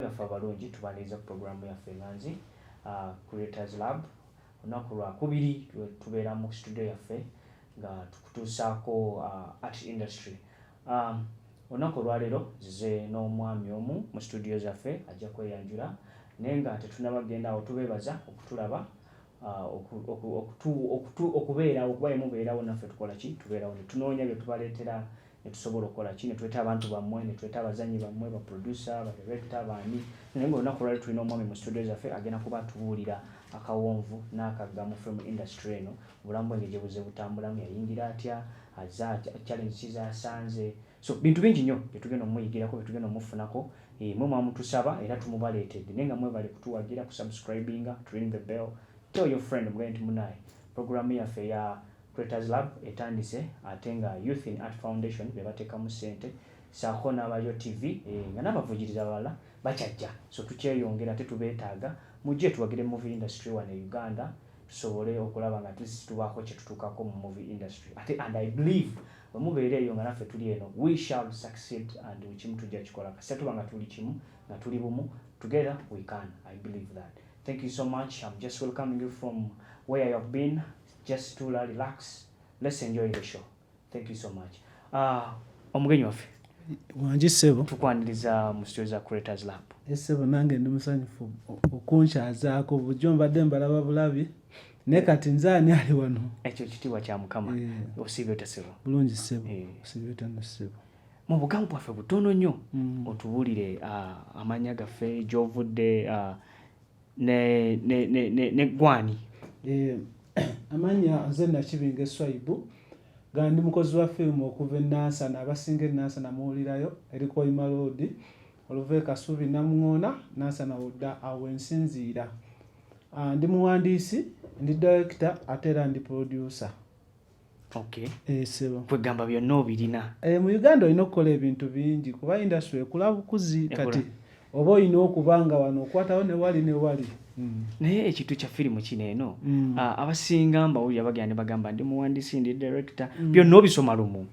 naffe abalungi tubaniriza ku puroguramu yaffe nga nzi uh, creators lab olunaku lwakubiri tubeera mu studio yaffe nga tukutuusaako uh, art industry um, olunaku olwaleero zize n'omwami omu mu studio zaffe ajja kweyanjula naye nga tetunaba genda awo tubeebaza okutulaba uh, okubeerawo okuba emubeerawo naffe tukola ki tubeerawo netunoonya byetubaleetera netusobola okukola ki netuleta abantu bammwe netuleta abazanyi bammwe baproducer badirector baani naye nga olunaku lwali tulina omwami mu studio zaffe agenda kuba atubuulira akawonvu n'akagga mu film industry eno obulamu bwenge gye buze butambulamu yayingira atya aza challenge kizasanze so bintu bingi nnyo byetugenda omuyigirako byetugenda omufunako eh, mwe mwamutusaba era tumubaleetedde naye nga mwebale kutuwagira kusubscribinga to ring the bell tell your friend mugende nti munaye programu yaffe ya Creators Lab etandise ate nga Youth in Art Foundation be bateekamu ssente saako n'abayo TV eh, nga n'abavujiriza abalala bakyajja so tukyeyongera ate tubeetaaga mujje tuwagire movie industry wano e Uganda tusobole okulaba nga atlist tubaako kye tutuukako mu movie industry ate and I believe bwe mubeera eyo nga naffe tuli eno we shall succeed and ekimu tujja kikola kasita tuba nga tuli kimu nga tuli bumu together we can I believe that thank you so much I'm just welcoming you from where you have been just tula relax let's enjoy the show thank you so much uh, omugenyi waffe wangi ssebo tukwaniriza mu studio za creators lab esebo nange ndi musanyufu okunkyazaako bujo mbadde mbalaba bulabi naye kati nze ani ali wano ekyo kitiibwa kya mukama eh. osiibye otya sebo bulungi sebo eh. osiibye otya no sebo mu bugamu bwaffe butono nnyo mm. otubuulire ah, amannya gaffe gyovudde ah, ne ne ne ne, ne gwani eh amanya nze nakibinga eswaibu nga ndi mukozi wa firimu okuva enansana abasinga enansana muwulirayo eri koima loodi oluva e kasubi namuŋoona nansana wodda awo ensinziira ah, ndi muwandiisi ndi direkita ate era ndi purodyusa Okay. Eh, sebo. Kwegamba byonna obirina. Eh, mu Uganda olina okukola ebintu bingi kuba industry ekula bukuzi kati oba olina okuba nga wano okwatawo ne wali ne wali. Mm. Naye ekintu kya firimu kino eno mm. uh, abasinga mbawulira bagenda ne bagamba ndi muwandiisi ndi director mm. byonna obisoma lumu.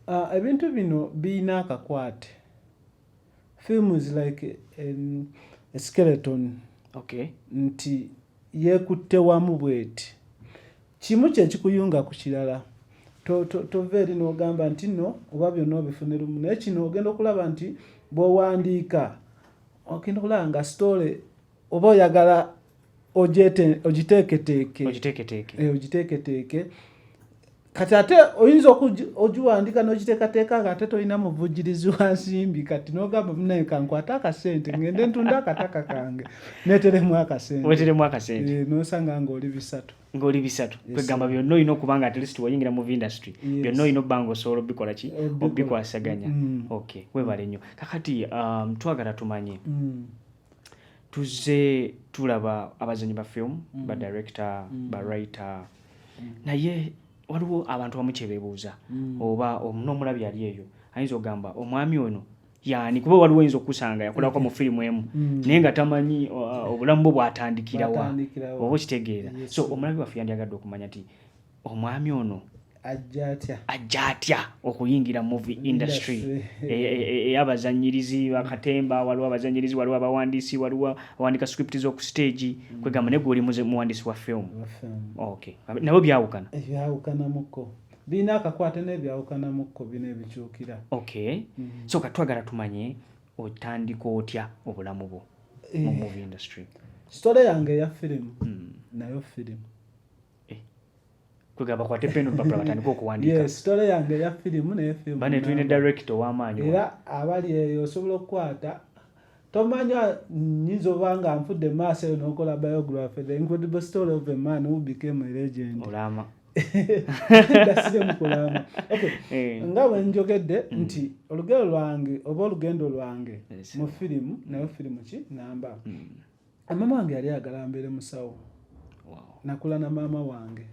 Uh, ebintu bino birina akakwate. film is like um, a skeleton okay nti yekutte wamu bweti kimu kyekikuyunga ku kirala tova eri nogamba nti no oba byonna obifune lumu naye kino ogenda okulaba nti bwowandiika ogenda okulaba nga story oba oyagala ogiteeketeeke eh, ogiteeketeeke kati ate oyinza ogiwandika n'ogiteekateeka nga ate tolina muvujjirizi wa nsimbi kati n'ogamba munaye kankwate akasente ngende ntunda akataka kange neteremu akasenteweteremu akasente eh, nosanga ng'oli bisatu ng'oli bisatu kwegamba byonna olina okuba nga atlist wayingira mu industry byonna olina obba nga osobola obikola ki obikwasaganya mm. ok webale nnyo kakati um, twagala tumanye mm. tuzze tulaba abazanyi ba film mm. ba director mm. ba writer mm. naye waliwo abantu bamu kyebebuuza mm. oba n'omulabi yali eyo ayinza okugamba omwami ono yani kuba waliwo oyinza okusanga yakolako mu firimu emu mm. naye nga tamanyi obulamu bwe bwatandikirawa oba okitegeera so omulabi waffe yandyagadde okumanya ti omwami ono ajja atya okuyingira movie industry eyabazanyirizi e, e, e, bakatemba waliwo abazanyirizi waliwo abawandiisi waliwo awandika script z'oku stage mm. kwegamba naye gwoli muwandiisi wa film nabo byawukana byawukanamuko birina akakwate naye byawukanamuko bino ebikyukira ok mm. so katwagala tumanye otandika otya obulamu bwo mu eh. movie industry story yange eya firimu mm. nayo firimu kwegamba kwate peno mpapula batandika okuwandiikasitole yange eya firimu naye firimu bane tulina directo ow'amaanyi era abali eyo osobola okukwata tomanya nyinza oba nga nfudde maaso eyo n'okola biography the incredible story of a man who became a legend olama dasire mukulama okay eh. nga bwe njogedde mm. nti olugero lwange oba olugendo lwange mu firimu nayo firimu ki namba mm. Mama wange yali ayagala mbeere musawo. Nakula na maama wange.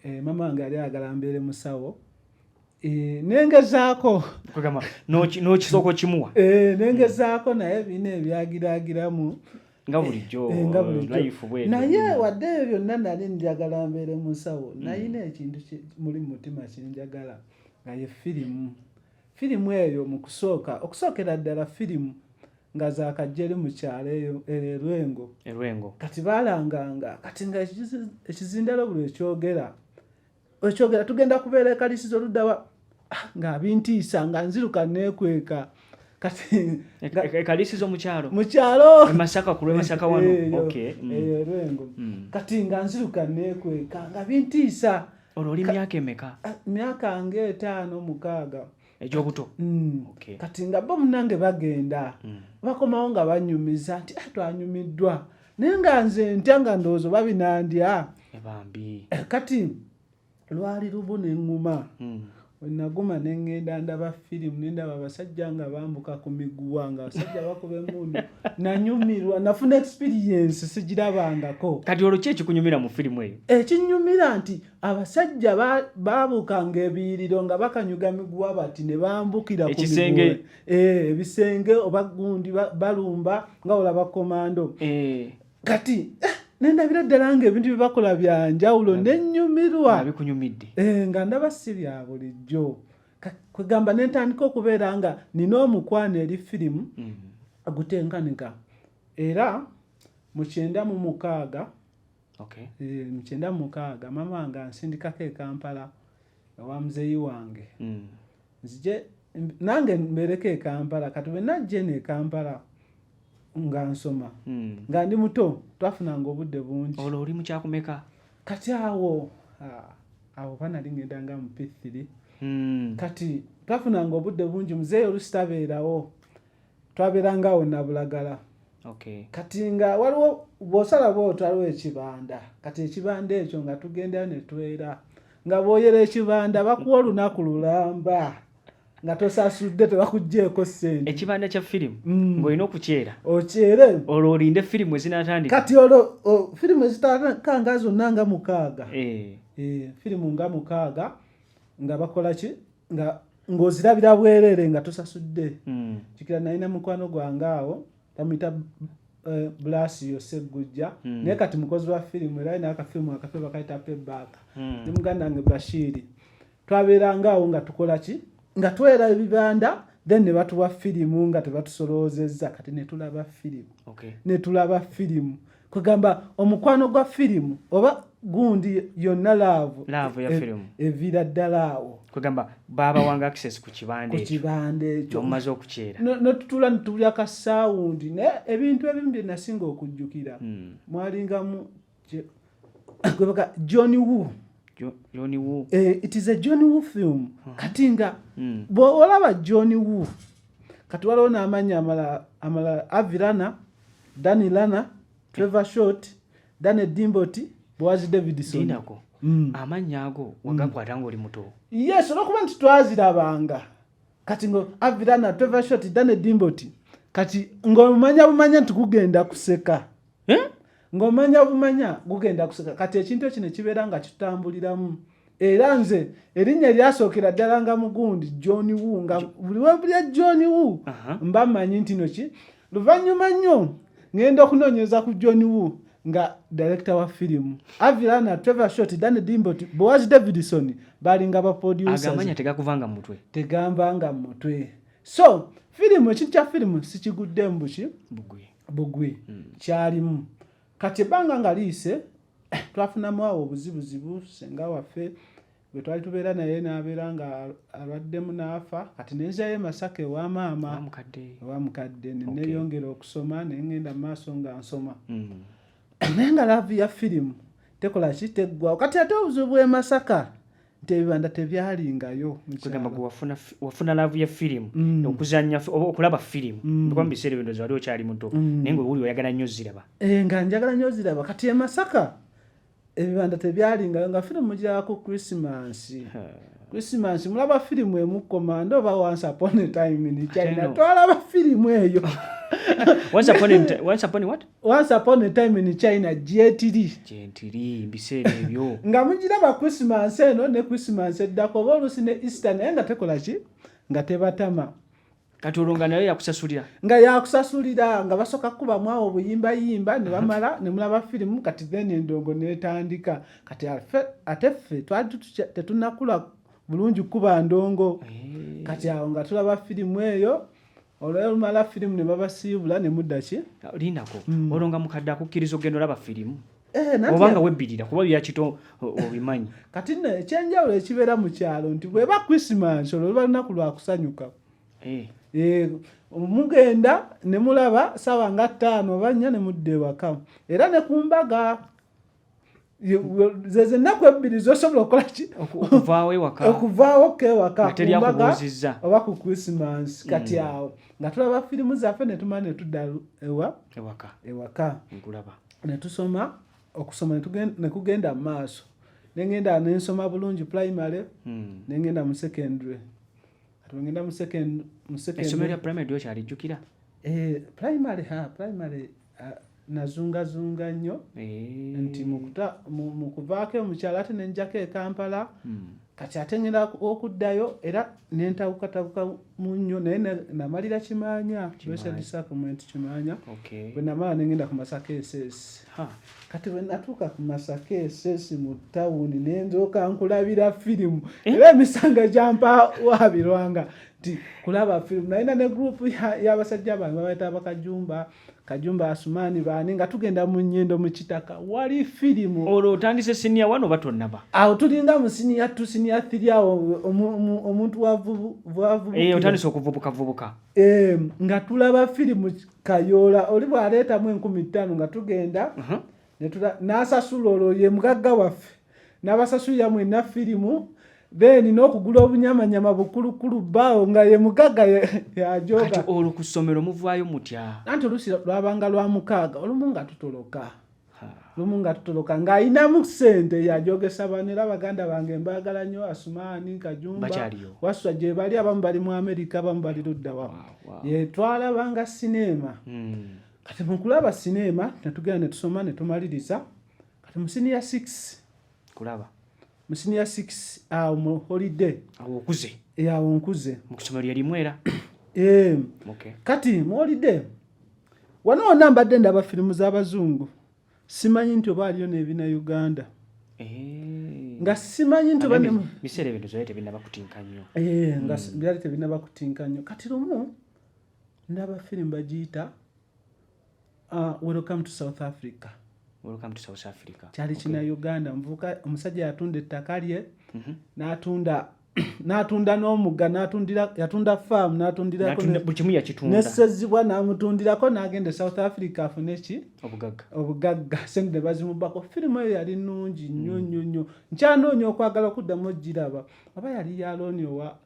Eh, maama wange yali ayagala mbeere musawo. Eh, nengezaako n'okisooka okimuwa. Eh, nengezaako naye bino ebyagiraagiramu. nga bulijjo eh, naye hmm. wadde ebyo byonna nali njagala mbeere musawo hmm. nayina ekintu muli mumutima kinjagala nga ye firimu Firimu eyo mu kusooka okusookera ddala firimu nga zakajjeri mu kyalo eyo erwengo erwengo kati balanganga kati nga ekizindalo buli ekyogera ekyogera tugenda kubeera ekalisiza oluddawa ah, nga abintiisa nga nziruka nekweka kati ekalisiza e, e, omukyalo mukyalo e masaka kulwe masaka wano eh, okay mm. eh, erwengo mm. kati nga nziruka nekweka nga bintiisa olwo oli myaka emeka ah, myaka nga etaano mukaaga egyobuto mm. kati nga bo munange bagenda mm. bakomawo nga banyumiza nti ah, twanyumiddwa naye nga nze ntya nga ndowooza oba binandya eh, eh, kati lwali lubu neŋŋuma mm. Wenaguma ne ngenda ndaba firimu ne ndaba abasajja nga bambuka ku miguwa nga abasajja bakuba emundu nanyumirwa nafuna experiensi sigirabangako. Kati olwo ki ekikunyumira mu firimu eyo? Ekinyumira nti abasajja babuuka nga ebiyiriro nga bakanyuga miguwa bati ne bambukira ku miguwa eh, ebisenge oba gundi balumba nga olaba komando. Eh. kati eh, nendabira ddala nga ebintu byebakola byanjawulo nenyumirwa bikunyumidde eh, nga ndaba si bya bulijjo kwegamba nentandika okubeera nga nina omukwano eri firimu mm-hmm. gutenkanika era mukyenda mu mukaaga eh, mukyenda mu mukaaga maama wange ansindikako ekampala ewa muzeeyi wange mm. nzije nange mbeereko ekampala kati bwenajja eno ekampala nga nsoma hmm. nga ndi muto twafunanga obudde bungi olwo oli mukyakumeka kati awo awo banali ngenda nga mupithiri hmm. kati twafunanga obudde bungi muzeeyi olusi tabeerawo twaberanga awo nabulagala okay. kati nga waliwo bwosala bwoti waliwo ekibanda kati ekibanda ekyo nga tugendayo netwera nga boyera ekibanda bakuwa olunaku lulamba nga tosasudde tebakugjeeko sente ekibanda kya firimu mm. ngaolina okukyera okyere olwo olinde firimu ezinatandika kati olwo firimu ezitakanga zonna nga mukaaga eh. Eh, firimu nga mukaaga nga bakola ki nga ng'ozirabira bwereere nga tosasudde hmm. kikira naye ne mukwano gwange awo bamuyita eh, bulaasi yose eggujja hmm. naye kati mukozi wa firimu era alina akafirimu akafe bakayita pebaaka hmm. ne muganda wange bashiiri twabeeranga awo nga tukola ki nga twera ebibanda then ne batuwa firimu nga tebatusoloozezza kati ne tulaba firimu ne tulaba firimu kwegamba omukwano gwa firimu oba gundi yonna laavu laavu ya e, firimu eviira ddala awo kwegamba baabawanga access ku kibande ku kibande ekyo omumaze okukyera notutula nitubuli akasawundi naye ebintu ebimu bye nasinga okujjukira hmm. mwalingamu gwebaka john woo Johnny Woo. Eh, it is a Johnny Woo film. Uh -huh. Kati nga mm. bw'olaba Johnny Woo kati waliwo n'amannya amala amala Avirana Danny Lana, Trevor Short, Danny Dimboti, Boaz Davidson. Dinako. Mm. Amannya ago wagakwata mm. ng'oli muto. Yes, olwokuba nti twazirabanga. Kati ngo Avi Lana, Trevor Short, Danny Dimboti. Kati ng'omanya bumanya nti gugenda kuseka. Eh? Ng'omanya bumanya gugenda kuseka. Kati ekintu ekyo ne kibeera nga kitambuliramu. era nze erinnya eryasookera ddala nga mugundi john wu nga buli webulya john wu mba mmanyi nti noki luvannyuma nnyo ŋŋenda okunoonyereza ku john wu nga direkita wa firimu avilana trevor short dan dimbot boaz davidson balinga baproduceramanya tegakuvanga mu mutwe tegambanga mu mutwe so firimu ekintu kya firimu sikiguddemu buki bugwi hmm. kyalimu kati ebbanga nga liyise twafunamu awo obuzibuzibu senga waffe gwe twali tubeera naye n'abeera nga alwaddemu n'afa kati nenzayo emasaka ewa maama ewa mukadde neneyongera okusoma naye ngenda mu maaso nga nsoma mm. naye nga laavu ya firimu tekola ki teggwawo kati ate obuzibu bw'emasaka nti ebibanda tebyalingayo kugamba gwe wafuna wafuna laavu ya firimu mm. okuzanya oba okulaba firimu mm. kuba mu biseera ebyo ndozi wali okyali muto mm. naye nga wuli oyagala nnyo ziraba eh, nga njagala nnyo ziraba kati e masaka ebibanda tebyalingayo nga firimu gyako krisimansi krisimansi mulaba firimu emukomanda oba once upon a time in china twalaba firimu eyo once upon a, once upon a what once upon a time in china gyetiri gyentiri mbiseera ebyo nga mugiraba christmas eno ne christmas eddako oba oluusi ne easter naye nga tekola ki nga tebatama kati olwo nga nayo yakusasulira nga yakusasulira nga basooka kukubamu awo obuyimbayimba ne bamala ne mulaba firimu kati then endongo netandika kati ate ffe twali tetunakula bulungi kukuba ndongo eh. kati awo nga tulaba firimu eyo olwo lumala firimu ne babasiibula ne muddaki lindako hmm. olwo nga mukadde akukkiriza okugenda olaba firimu eh, oba nga webbirira kuba byakito obimanyi kati no ekyenjawulo ekibeera mu kyalo nti bweba krisimansi olwo luba lunaku lwakusanyuka eh. Eh, mugenda ne mulaba saawa nga ttaano oba nnya ne mudda ewaka era ne ku mbaga zeze ennaku ebbiri zosobola okukola ki okuvaawo ewaka okuvaawo ko ewaka kumbaga oba ku krisimansi mm. kati awo nga tulaba firimu zaffe netumala netudda ewa ewaka ewaka nkulaba netusoma okusoma nekugenda mu maaso nengenda nensoma bulungi primary hmm. nengenda mu secondary atwengenda mu secondary esomero lya primary lyokyali jjukira eh, primary ha primary nazungazunga nnyo eh. nti mu kuvaako emukyalo ate nenjako e kampala hmm. kati ate ngenda okuddayo era nentawukatawuka mu nnyo naye namalira kimaanya disappointment kimaanya bwe namala nengenda ku masaka esesi kati bwe natuuka ku masaka esesi mu tawuni nenzooka nkulabira firimu eh? era emisanga gyampa wabirwanga kulaba film nalina ne group yabasajja bange babayita bakajumba kajumba asumani bani nga tugenda mu nyendo mu kitaka wali filimu olwo otandise siniya wano batonaba awo tulinga mu siniya tu siniya thiri awo omuntu wavubuotandise eh, okuvubukavubuka eh, nga tulaba filimu kayola oli bwaleetamu enkumi ttaano nga tugenda uh-huh. nasasula olwo ye mugagga waffe nabasasulira mwena firimu then nokugula obunyamanyama bukulukulu bawo nga ye mugaga yajoga olwo ku ssomero muvaayo mutya anti olusi lwabanga lwa mukaaga olumu nga tutoloka lumu nga tutoloka ng'alinamu sente yajogesa bano era baganda bange mbaagala nnyo asumaani kajumba waswa gye bali abamu bali mu amerika abamu bali luddawa yetwalabanga sineema hmm. kati mukulaba sineema netugenda netusoma netumaliriza kati mu senior 6 kulaba mu senior 6 awo mu holiday awo okuze eh awo nkuze mu kusomero yali mwera eh okay kati mu holiday wano ona mbadde ndaba filimu z'abazungu simanyi nti oba aliyo n'ebina uganda eh. nga simanyi nti biseera ebintu zali tebinabakutinka nnyo eh, nga hmm. byali tebinabakutinka nnyo kati lumu ndaba filimu bagiyita Uh, welcome to South Africa. Welcome to South Africa. Kyali okay. kina Uganda mvuka omusajja yatunda ettaka lye mm -hmm. n'atunda n'atunda n'omugga n'atundira yatunda farm n'atundirako buli kimu yakitunda n'essezibwa n'amutundirako n'agenda e South Africa afune ki obugagga obugagga sente ne bazimubbako firimu eyo yali nnungi nnyo mm. nnyo nnyo nkyanoonya okwagala okuddamu ogiraba oba yali ya looni owa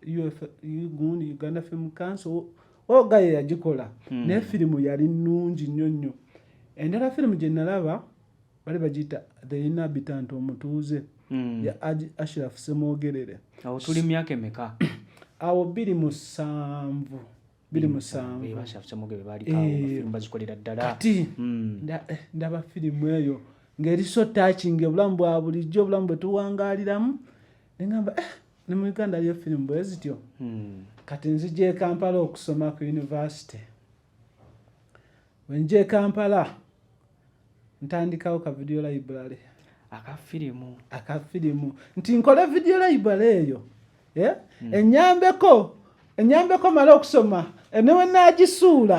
uguni Uganda Film Council oga oh, ye yagikola hmm. naye firimu yali nnungi nnyo nnyo endala firimu gye nalaba bali bagiyita the inhabitant omutuuze hmm. ya aji ashiraf semwogerere awo tuli myaka emeka awo biri musanvu biri musanvu kati hmm. eh, ndaba firimu eyo ng'eri so takinga obulamu bwa bulijjo obulamu bwe tuwangaliramu nengamba eh, ne mu uganda aliyo firimu bwe zityo hmm. kati nzija ekampala okusoma ku univesity wenja ekampala ntandikawo ka video library akafirimu akafirimu nti nkole video library eyo eh? hmm. enyambeko enyambeko mala okusoma ene wenagisuula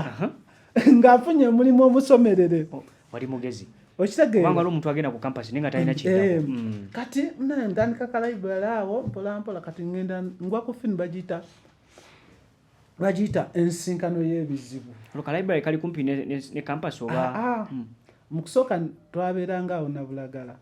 nga afunye omulimu omusomerere oh, wali mugezi okitegeera omuntu agenda ku kampasi naye nga talina eh, hmm. kati ntandika kalaibali awo mpolampola kati ngenda ngwa ku fini bagiyita bagiyita ensinkano y'ebizibu kalaibali kali kumpi ne kampasi oba ah, ah. Hmm. mu kusooka twabeeranga awo nabulagala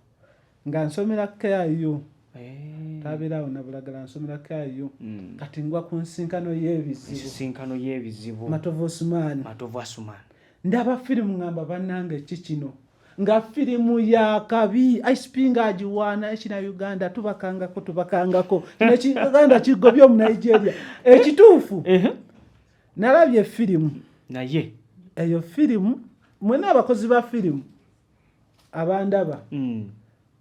nga nsomera kyayo eh. tabeerawo nabulagala nsomera kyayo hmm. kati ngwa ku nsinkano yebizibunsinkano yebizibu matovu osumaani matovu asumaani ndaba firimu ngamba banange ki kino nga firimu ya kabi icp nga agiwaana ekina uganda tubakangako tubakangako uganda kigobye omu nigeria ekituufu nalabye firimu naye eyo firimu mwena abakozi ba firimu abandaba mm.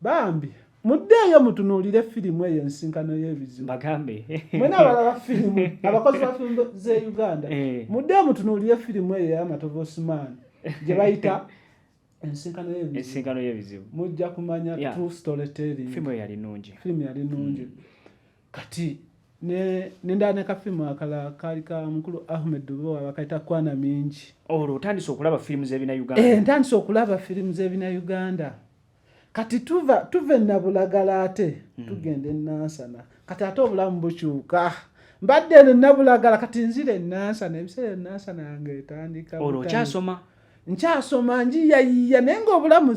bambi muddeeyo mutunuulire firimu eyo ensinkano y'ebizibu bagambe mwena abalaba firimu abakozi ba firimu ze uganda eh. muddeeyo mutunuulire firimu eyo eyamatovu osimaani gye bayita ensinkano y'ebizibu mujja kumanya true story telling firimu yali nungi firimu yali nungi mm. kati nendala ne kafimu akala kaali ka mukulu ahmed dubowa bakaita kwana mingi olwo otandise okulaba firimu zebina uganda eh, ntandise okulaba firimu zebina uganda kati tuva tuve nabulagala ate hmm. tugenda enansana kati ate obulamu bukyuka mbadde eno nabulagala kati nzira enansana ebiseera enansana yange etandika olwo okyasoma nkyasoma njiyayiya naye ngaobulamu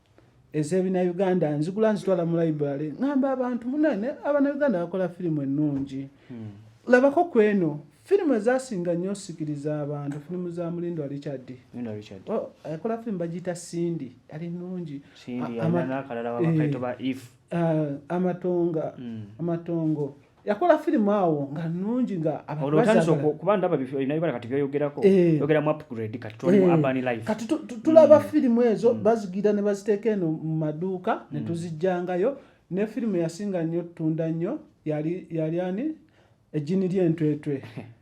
ezebina uganda nzigula nzitwala mu library ngamba abantu munene abana uganda bakola firimu ennungi hmm. labako kweno firimu ezasinga nnyo osikiriza abantu firimu za mulindo richard akola firimu bagiyita sindi ali nungi eh, ah, amatonga hmm. amatongo yakola firimu awo nga nungi nga kuba ndaba ebinabibala kati byoyogerako eh. yogera mu upgrade kati tuli mu eh. urban life kati tulaba mm. firimu ezo mm. bazigira ne baziteeka eno mu maduuka mm. ne tuzijjangayo ne firimu yasinga nnyo tunda nnyo yali yali ani ejjini ly'entwetwe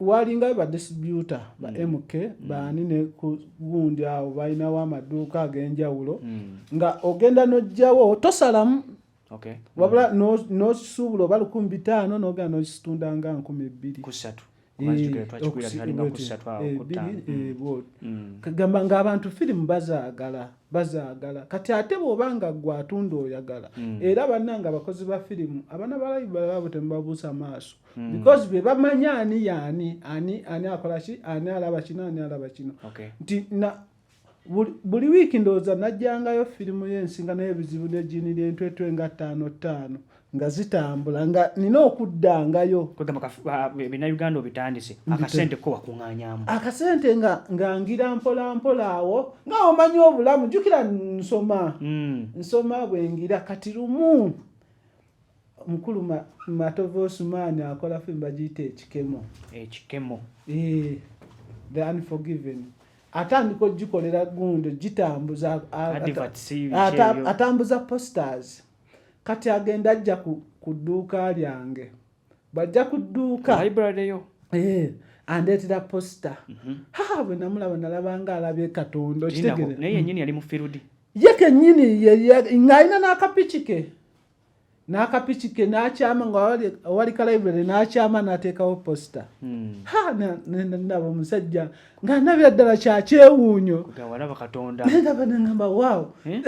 walinga ba distributor ba mm. mk mm. baani ne ku gundi awo balinawo amaduuka ag'enjawulo mm. nga ogenda n'ojjawo tosalamu okay. wabula mm. n'okisuubula no oba lukumi bitaano n'ogenda n'okisitunda nga nkumi bbiri kusatu gamba ng'abantu firimu bazaagala bazaagala kati ate bw'oba nga gwe atunda oyagala mm. era bannanga abakozi ba firimu abana balayi balabo temubabuusa maaso Hmm. because be bamanya ani yaani ani ani akola ki ani alaba kino ani alaba kino nti na buli wiiki ndowooza najjangayo firimu y'ensinga naye ebizibu nejini lyentwetwe nga ttaano ttaano nga zitambula nga nina okuddangayo binauganda obitandise akasente ko wakuŋanyamu akasente nga ngangira mpola mpola awo nga omanyi obulamu jukira nsoma hmm. nsoma bwengira kati lumu Mukulu ma, Matovu Osumani akola film bagiyita ekikemo. Ekikemo. Eh, the unforgiven. Atandika ogikolera gundo gitambuza atambuza posters. Kati agenda ajja ku, ku dduuka lyange. Bw'ajja ku dduuka. Library yo. Eh. andeetera posita mhm. haa bwe namulaba nalabanga alabye katonda okitegere naye yenyini yali mufirudi ye kenyini ng'alina n'akapiki ke n'akapiki ke n'akyama nga awali ka library n'akyama n'ateekawo posita hmm. ha nendaba omusajja nga ndabira ddala kyakyewuunyo nendaba nengamba waawo eh?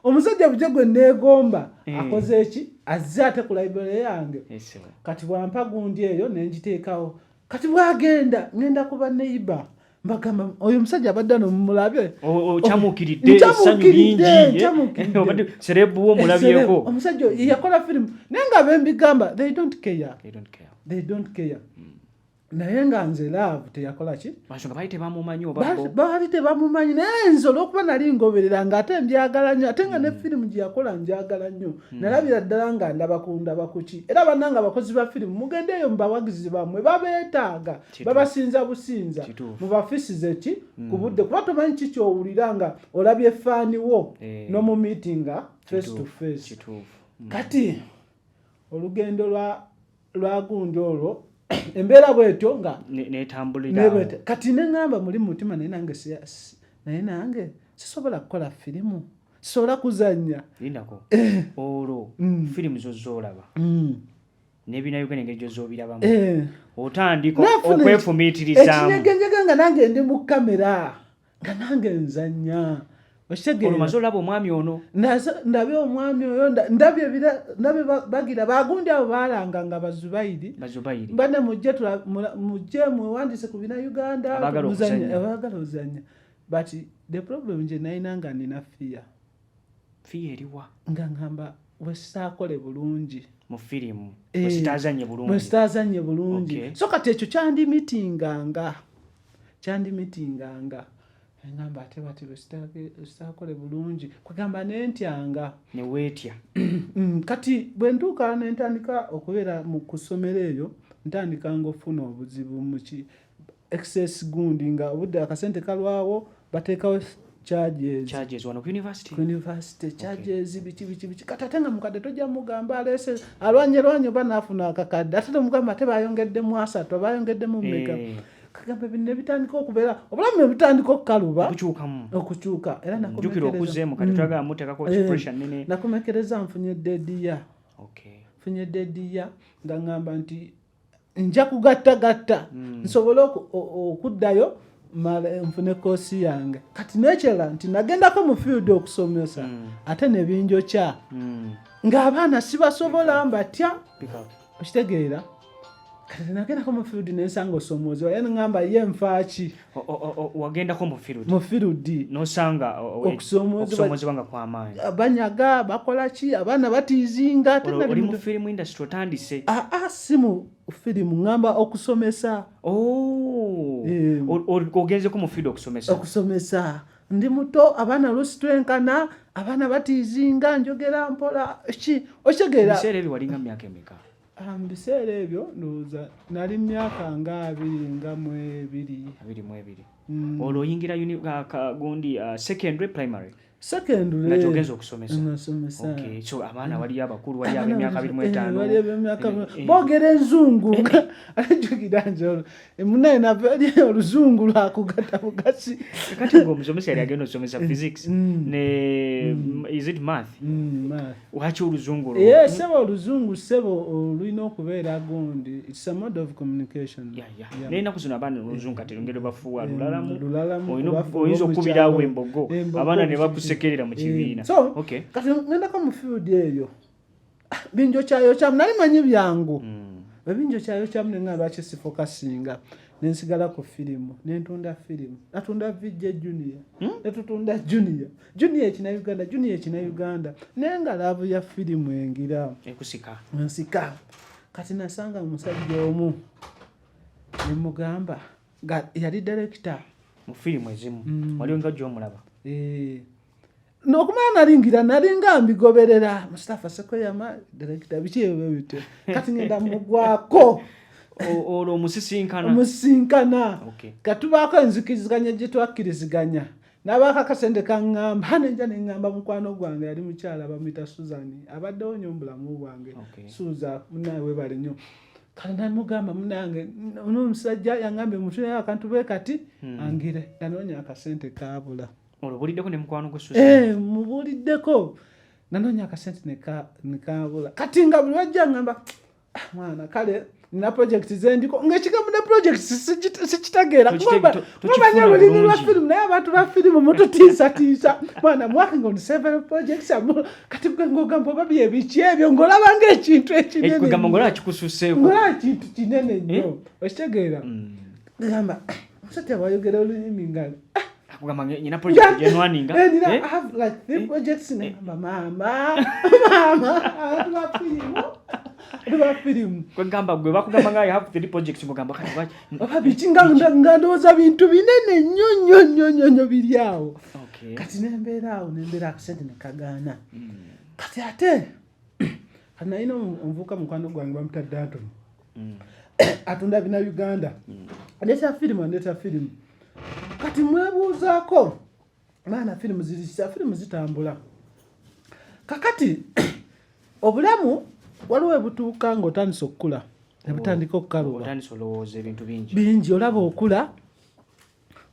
omusajja bujja gwe neegomba eh. akoze eki azze ate ku library yange eh, kati bwampa gundi eyo nengiteekawo kati bwagenda ngenda kuba neiba mbagamba oyo omusajja abadde ano mumulabye okyamukiriddekyamukiriddeobaddeserebuwo omulabyeko omusajja yakola firimu naye nga bembigamba they don't care they don't care hmm. naye nga nze laavu teyakola ki baali tebamumanyi naye nze olwokuba nali ngoberera nga ate njagala nnyo ate nga ne hmm. firimu gye yakola njagala nnyo hmm. nalabira ddala nga ndaba kundaba kuki era bananga abakozi ba firimu mugendeeyo mubawagizi bamwe babeetaaga babasinza businza mubafisize ki mm. ku budde kuba tomanyi ki kyowulira nga olabye faaniwo eh. nomumitinga face to face mm. kati olugendo lwa lwagundi olwo embeera bwetyo nga kati neŋamba muli mutima naye nange naye nange sisobola kukola firimu sisobola kuzanya lindako eh. olwo mm. firimu zozolaba mm. nebina uganda engeri gyozobirabamu eh. otandika okwefumiitirizamuekinyegenjega nga nange ndi mu kamera nga nange nzanya omaze olaba omwami ono ndabe omwami oyo ndabye bagira bagundi abo balanga nga bazubairi bane mujje mujje mwewandise ku bina uganda abagala ozanya but the problem nje nayina nga nina fiya fiyeriwa nga ngamba wesakole bulungi mu firimu eh, wesitazanye bulungi wesitazanye bulungi okay. so kati ekyo kyandi mitinganga kyandi mitinganga ngamba ate bati wesakole bulungi kwegamba nentyanga newetya mm, kati bwentuuka nentandika okubeera mu kusomero eyo ntandika nga ofuna obuzibu muki excess gundi nga obudde akasente kalwawo bateekawo charges wano ku university ku university charges okay. biki biki biki kati ate nga mukadde tojja mugamba aleese alwanye lwanye oba naafuna akakadde ate tomugamba ate bayongeddemu asatu abayongeddemu meka hey. Eh. kagamba binne bitandika okubeera obulamu nebitandika okukaluba okukyuka era nakomekereza mm. eh. nfunye dediya okay. nfunye dediya nga ngamba nti nja kugattagatta mm. nsobole okuddayo nfune koosi yange kati nekyala nti nagendako mu field okusomesa mm. ate nebinjokya mm. ng'abaana sibasobola mbatya okitegeera kati nagendako mu field nensanga osomoozebwa ye ngamba ye nfaaki wagendako mufirudi nosanga okusoomozebwa nga kwamaanyi ah, banyaga bakola ki abaana batiizinga ateoli mu firimu industry otandise aa ah, ah, si mu firimu ŋŋamba okusomesa oh. eh. ogenzeko mu firimu okusomesa okusomesa ndi muto abaana lusi twenkana abaana batiizinga njogera mpola ki okitegera ebiseera ebyo walinga mu myaka emeka Ah, mu biseera ebyo ndowooza nali myaka nga abiri nga mu ebiri abiri mu ebiri mm. olwo oyingira gundi ah, secondary primary secondarynakyogeza okusomesaso abaana mm. waliyo abakulu waliyo abemyaka abiri mu etaano eh, eh. boogera enzungu eh, ajukira njolo Eh, munaye naveli oluzungu lwakugata bugasi kati nga omusomesa yali agenda osomesa mm. physics mm. ne mm. is it math waki oluzungu ye sebo oluzungu sebo olulina okubeera gundi its a mode of communication naye naku zino abaana oluzungu kati lungeri bafuwa lulalamuoyinza okukubirawo embogo abaana ne bakusekerera mu kibiina kati ngendako mu field eyo binjokyayokyamu nali manyi byangu mm. ebinjokyayokyamu nenga lwaki sifoka singa nensigala ku firimu nentunda firimu natunda vijja junia hmm? netutunda junia junia ekina uganda junia ekina uganda naye nga laavu ya firimu engira ekusika nsika kati nasanga omusajja omu nemugamba yali direkita mu firimu ezimu mm. waliwo nga gyomulaba eh. nokumala nalingira nalinga mbigoberera mustafa sekweyama direkita biki ebyo bityo kati ngenda mugwako olwo omusisinkana omusisinkana katubaako enzikiriziganya gye twakkiriziganya nabaako akasente kaŋŋamba hano enja ne ŋŋamba mukwano gwange yali mukyala bamuyita suzani abaddewo nnyo mubulamu bwange suuza munaye webale nnyo kale namugamba munange nomusajja yaŋambye mutulera akantu bwe kati hmm. angire nanoonya akasente kaabula Olubuliddeko ne mukwano gwe Susan. Eh, mubuliddeko. Nanonya ka sente ne ka ne ka bula. Kati nga buli wajja ngamba ah, mwana kale na project zendiko nga kigamu na project sikitageera kumanya lulimi lwa firimu naye abantu ba firimu mututiisatiisa mwana mwakinga on several projects kati gwe ngogamba oba byebiki ebyo ngolaba nga ekintu ekinenengolaba eh, kintu kinene nnyo eh? okitegeera mm. gamba musajja wayogera olulimi nga ah, akugamba nyina project gyenwaninga eh, eh? eh? kwegamba gwe bakugamba nga have three projects mugamba kati lwaki nga ndowooza bintu binene nnyo nnyo nnyo nnyo nnyo biri awo kati nembeera awo nembeera akasente nekagaana hmm. kati ate kati nalina omuvuuka mukwano gwange bamutadde antono mm. atunda bina uganda mm. neta firimu aneta firimu kati mwebuuzaako maana firimu zirisa firimu zitambula kakati obulamu waliwo ebutuuka ngaotandisa okukula nebutandika okukaluba bingi olaba okula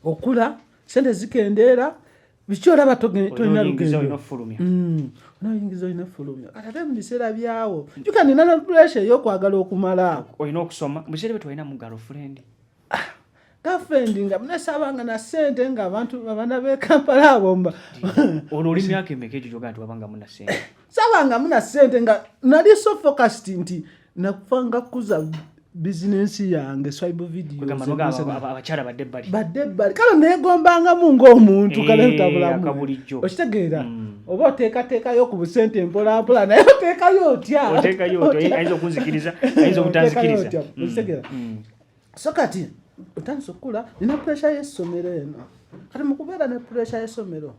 okula sente zikendeera biki olaba tolina lugendoyingiza olina fulumya mm. kati ate mubiseera byawo jukanina na pressure eyokwagala okumalaako olina okusoma mubiseera bye twalina mu girlfriend ah, girlfriend nga nasabanga na sente nga abantu abana bekampala abomba ono oli myaka emeka egyo gyogaa nti wabanga muna sente sabanga muna sente nga nali so focused nti nakufanga kuza bizinensi yange swibe videoabakyala badde ebbali badde ebbali kale negombangamu ngaomuntu eh, kale ntabulamubulijjo okitegeera mm. oba oteekateekayo ku busente empolampola naye oteekayo otyaayinza okunzikiriza ayinza obutanzikiriza mm. okitegeera mm. so kati otandisa okukula nina puresha y'essomero eno kati mukubeera ne puresha y'essomero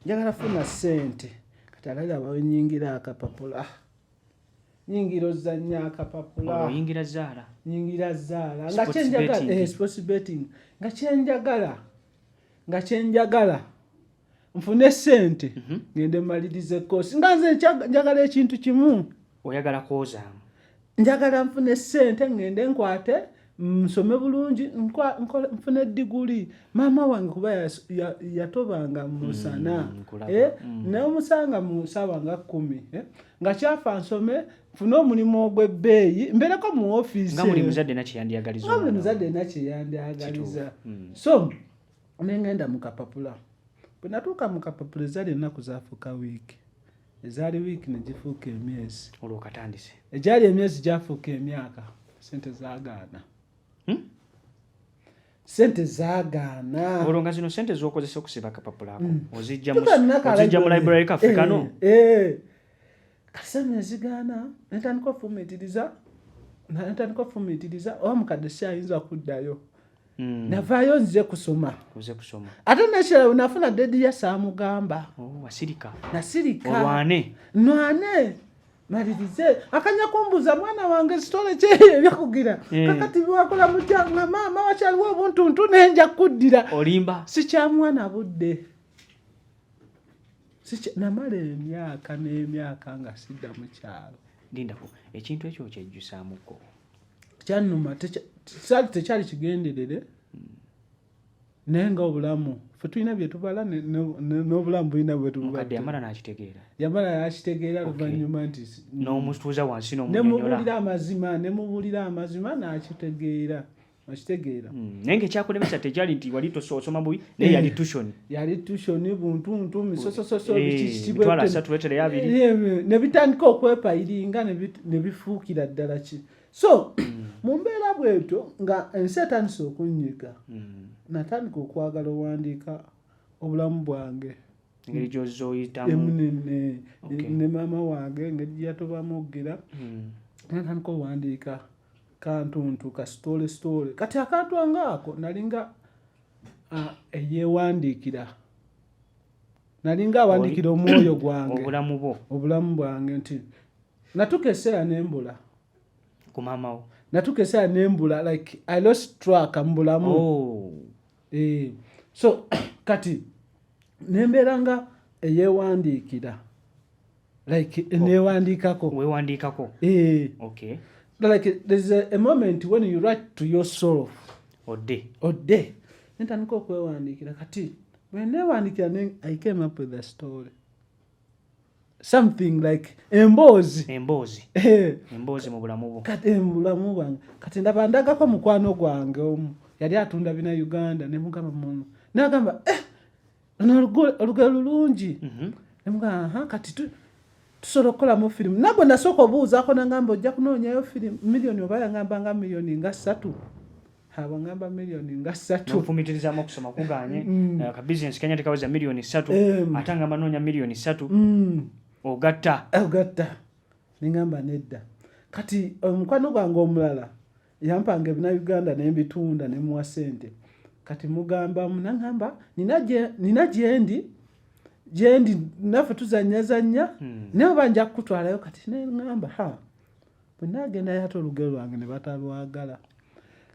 njagala funa sente kati alaga banyingira akapapula ah. nyingira ozanya akapapulaoyingira oh, zaala nyingira zaala nga kyenjagala eh, sports betting nga kyenjagala nga kyenjagala nfune sente mhm. ngende maliriza ekoosi nga nze njagala ekintu kimu oyagala kwozaamu njagala nfune sente ngende nkwate nsome bulungi nfune diguli maama wange kuba yatobanga ya, ya musana mm, eh? mm. naye omusanga mu saawa nga kumi eh? nga kyafa nsome nfune omulimu ogw'ebbeeyi mbereko mu ofiisi nga buli muzadde nakyeyandyagaliza mm. so nengenda mu kapapula bwe natuuka mu kapapula ezaali ennaku zaafuuka wiiki ezaali wiiki ne gifuuka emyezi olwo katandise egyali emyezi gyafuuka emyaka sente zagaana hmm? sente zagaana olwo nga zino sente zokozesa okusiba akapapula ako hmm. ozijja mu library kaffe kano eh, eh. kasana ezigaana netandika ofumitiriza netandika ofumitiriza oba mukadde si ayinza kuddayo Mm. navaayo nze kusoma ate nekirala nafuna dedi ya saamugamba oh, nasirika nwane malirize akanya kumbuza mwana wange sitole kyeyo ebyakugira eh. kakati biwakola mutya nga maama wakyaliwo obuntuntu nenja kuddira olimba sikyamwana budde namala emyaka n'emyaka nga sidda mukyalo lindako ekintu ekyo okyejjusamuko kyanuma kyali tekyali kigenderere naye nga obulamu fe tulina byetubala n'obulamu bulina bwetubukadde yamala nakitegeera yamala yakitegeera luvannyuma nti n'omutuuza wansi nemubuulira amazima nemubuulira amazima nakitegeera akitegeera hmm, naye nga ekyakulemesa tekyali nti wali osoma bubi naye yali eh, tushoni yali tushoni buntuntu misosososo eh, bikisibnebitandika eh, okwepayiringa nebifuukira ddala ki so mm. mu mbeera bwetyo nga ensi etandise okunyiga mm. natandika okwagala owandiika obulamu bwange engeri gyoza oyitamunene ne maama wange engeri gyeyatobamu okugira hmm. natandika owandiika kantuntu kasitole sitole kati akantu angaako nalinga eyewandiikira nalinga awandiikira omwoyo gwange obulamu bwange nti natuka eseera nembula kumamawo natuka eseera nembula like i lost track mubulamu oh. eh, so kati nembeera nga eyewandiikira like oh. newandiikako wewandiikako eh. okay like there's a, a moment when you write to yourself odde odde nentandika okwewandiikira kati bwenewandiikira ne i came up with a story something like emboozi emboozi eh. emboozi mu bulamu bwo kati eh, mu bulamu bwange kati ndaba ndagako mukwano gwange omu yali atunda bina uganda nemugamba muno nagamba eh, olugero lulungi mhm. nemugaa kati tusobola okukolamu firimu nagwe nasooka obuuzaako nangamba ojja kunoonyayo firimu miliyoni oba yangamba nga miliyoni nga ssatu abangamba miliyoni nga ssatufumitirizamu okusoma kuganye mm. eh, kabizinesi kenya tekaweza miliyoni ssatu ate ngamba noonya miliyoni ssatu mm. ogatta ogatta nengamba nedda kati omukwano gwange omulala yampanga ebinayuganda nembitunda nemuwa sente kati mugamba munangamba nina gyendi gyendi naffe tuzanyazanya hmm. naye oba nja kukutwalayo kati nengamba ha bwenagenda yate olugero lwange ne batalwagala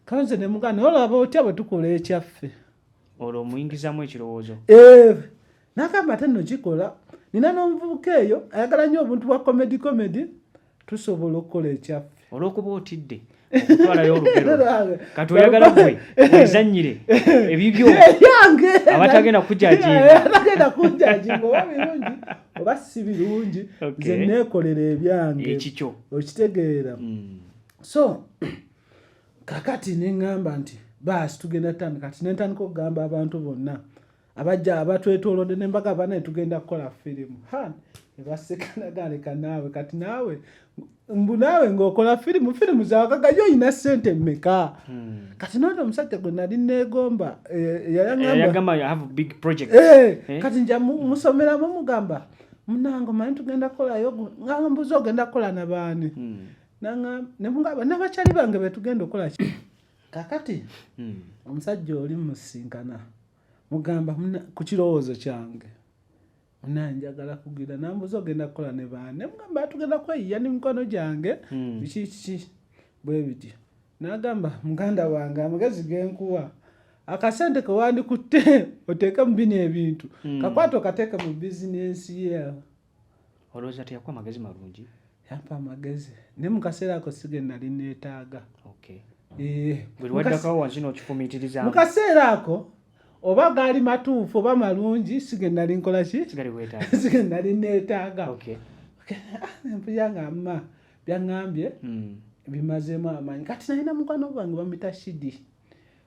kanze nemugaa naye olaba otya bwe tukola ekyaffe olwo omuyingizamu ekirowoozo eh, nagamba ate nokikola nina n'omuvubuka eyo ayagala nnyo obuntu bwa comedy comedy tusobola okukola ekyaffe olwokuba otidde okutwalayo olugero kati oyagala gwe wezanyire ebibyo abatagenda kujajiabatagenda kujajinga oba birungi oba si birungi nze neekolera ebyange ekikyo okitegeera hmm. so kakati neŋŋamba nti baasi tugenda tutandika kati nentandika okugamba abantu bonna abajja abatwetolodde nembaga banaye tugenda kukola firimu ha ebasekanagaaneka naawe kati naawe mbu naawe ngaokola firimu firimu zawagagayo olina sente mmeka hmm. kati noona omusajja gwe nali neegomba eh, yayagambaekati eh, eh? nja musomeramu mugamba munange omanyi tugenda kukolayo ngambuzi ogenda kukola nabaani hmm. nemugamba nabakyali bange betugenda okukola kakati hmm. omusajja oli musinkana mugamba ku kirowoozo kyange munaye njagala kugira nambuza ogenda kukola ne baane mugamba tugenda kweyiya ne mikono gyange hmm. biki kiki bwe bityo nagamba muganda wange amagezi genkuwa akasente kewandikutte oteeke mu bino ebintu hmm. kakwato kateeke mu bizinensi ye Olowooza teyakuwa magezi malungi? Yampa amagezi naye mu kaseera ako si ge nali neetaaga. Eh, buli waddakawo wansi n'okifumiitiriza mu kaseera ako oba gaali matuufu oba malungi si ge nali nkola ki si ge nali neetaaga nempuya ah, nga mma byaŋŋambye hmm. bimazeemu amaanyi kati nalina mukwano gwange bamuyita shidi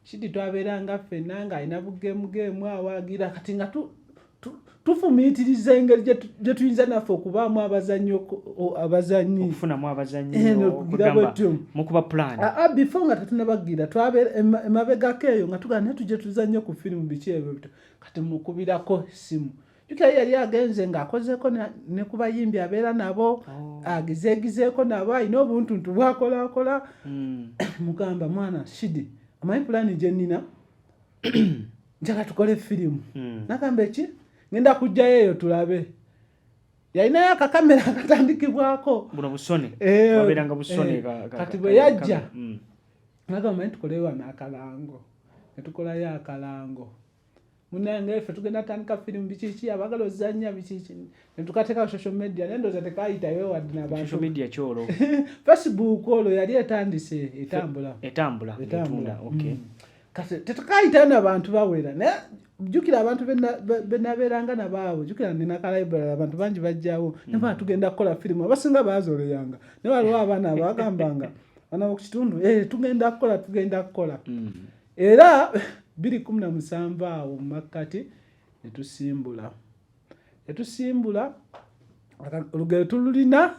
Shidi twabeeranga ffenna ng'alina bugeemugeemu awaagira kati nga tufumiitiriza engeri gye tuyinza naffe okubaamu abazanyi abazanyi okufunamu abazanyimukuba plan aa ah, ah, before nga tetunabagira twabeera emabegako eyo nga tugana naye tujje tuzanye ku firimu biki ebyo bito kati mukubirako essimu jukira yali agenze ng'akozeeko ne ku bayimbi abeera nabo oh. agizeegizeeko nabo alina obuntuntu bwakolakola hmm. mugamba mwana shidi omanyi pulaani gye nnina njala tukole firimu hmm. nagamba eki ngenda kujjayo eyo tulabe yalinayo akakamera akatandikibwako eh, kati bwe yajja hmm. nagamba manyi tukole wano akalango netukolayo akalango munange ffe tugenda tandika firimu bikiki abagala ozanya bikiki netukateka social media naye ndoza tekayitayo wadi nabantu media kyolo facebook olwo yali etandise etambula etambula etambula okay mm. kati tetukayitayo nabantu bawera naye jukira abantu benaberanga nabaawe jukira ninakalaibral abantu bangi bajjawo mm. naba tugenda kukola firimu abasinga bazoleyanga naye waliwo abaana abagambanga bana mukitundu eh, tugenda kukola tugenda kukola mm. era biri kumi na musanvu awo mu makkati ne tusimbula ne tusimbula olugero tululina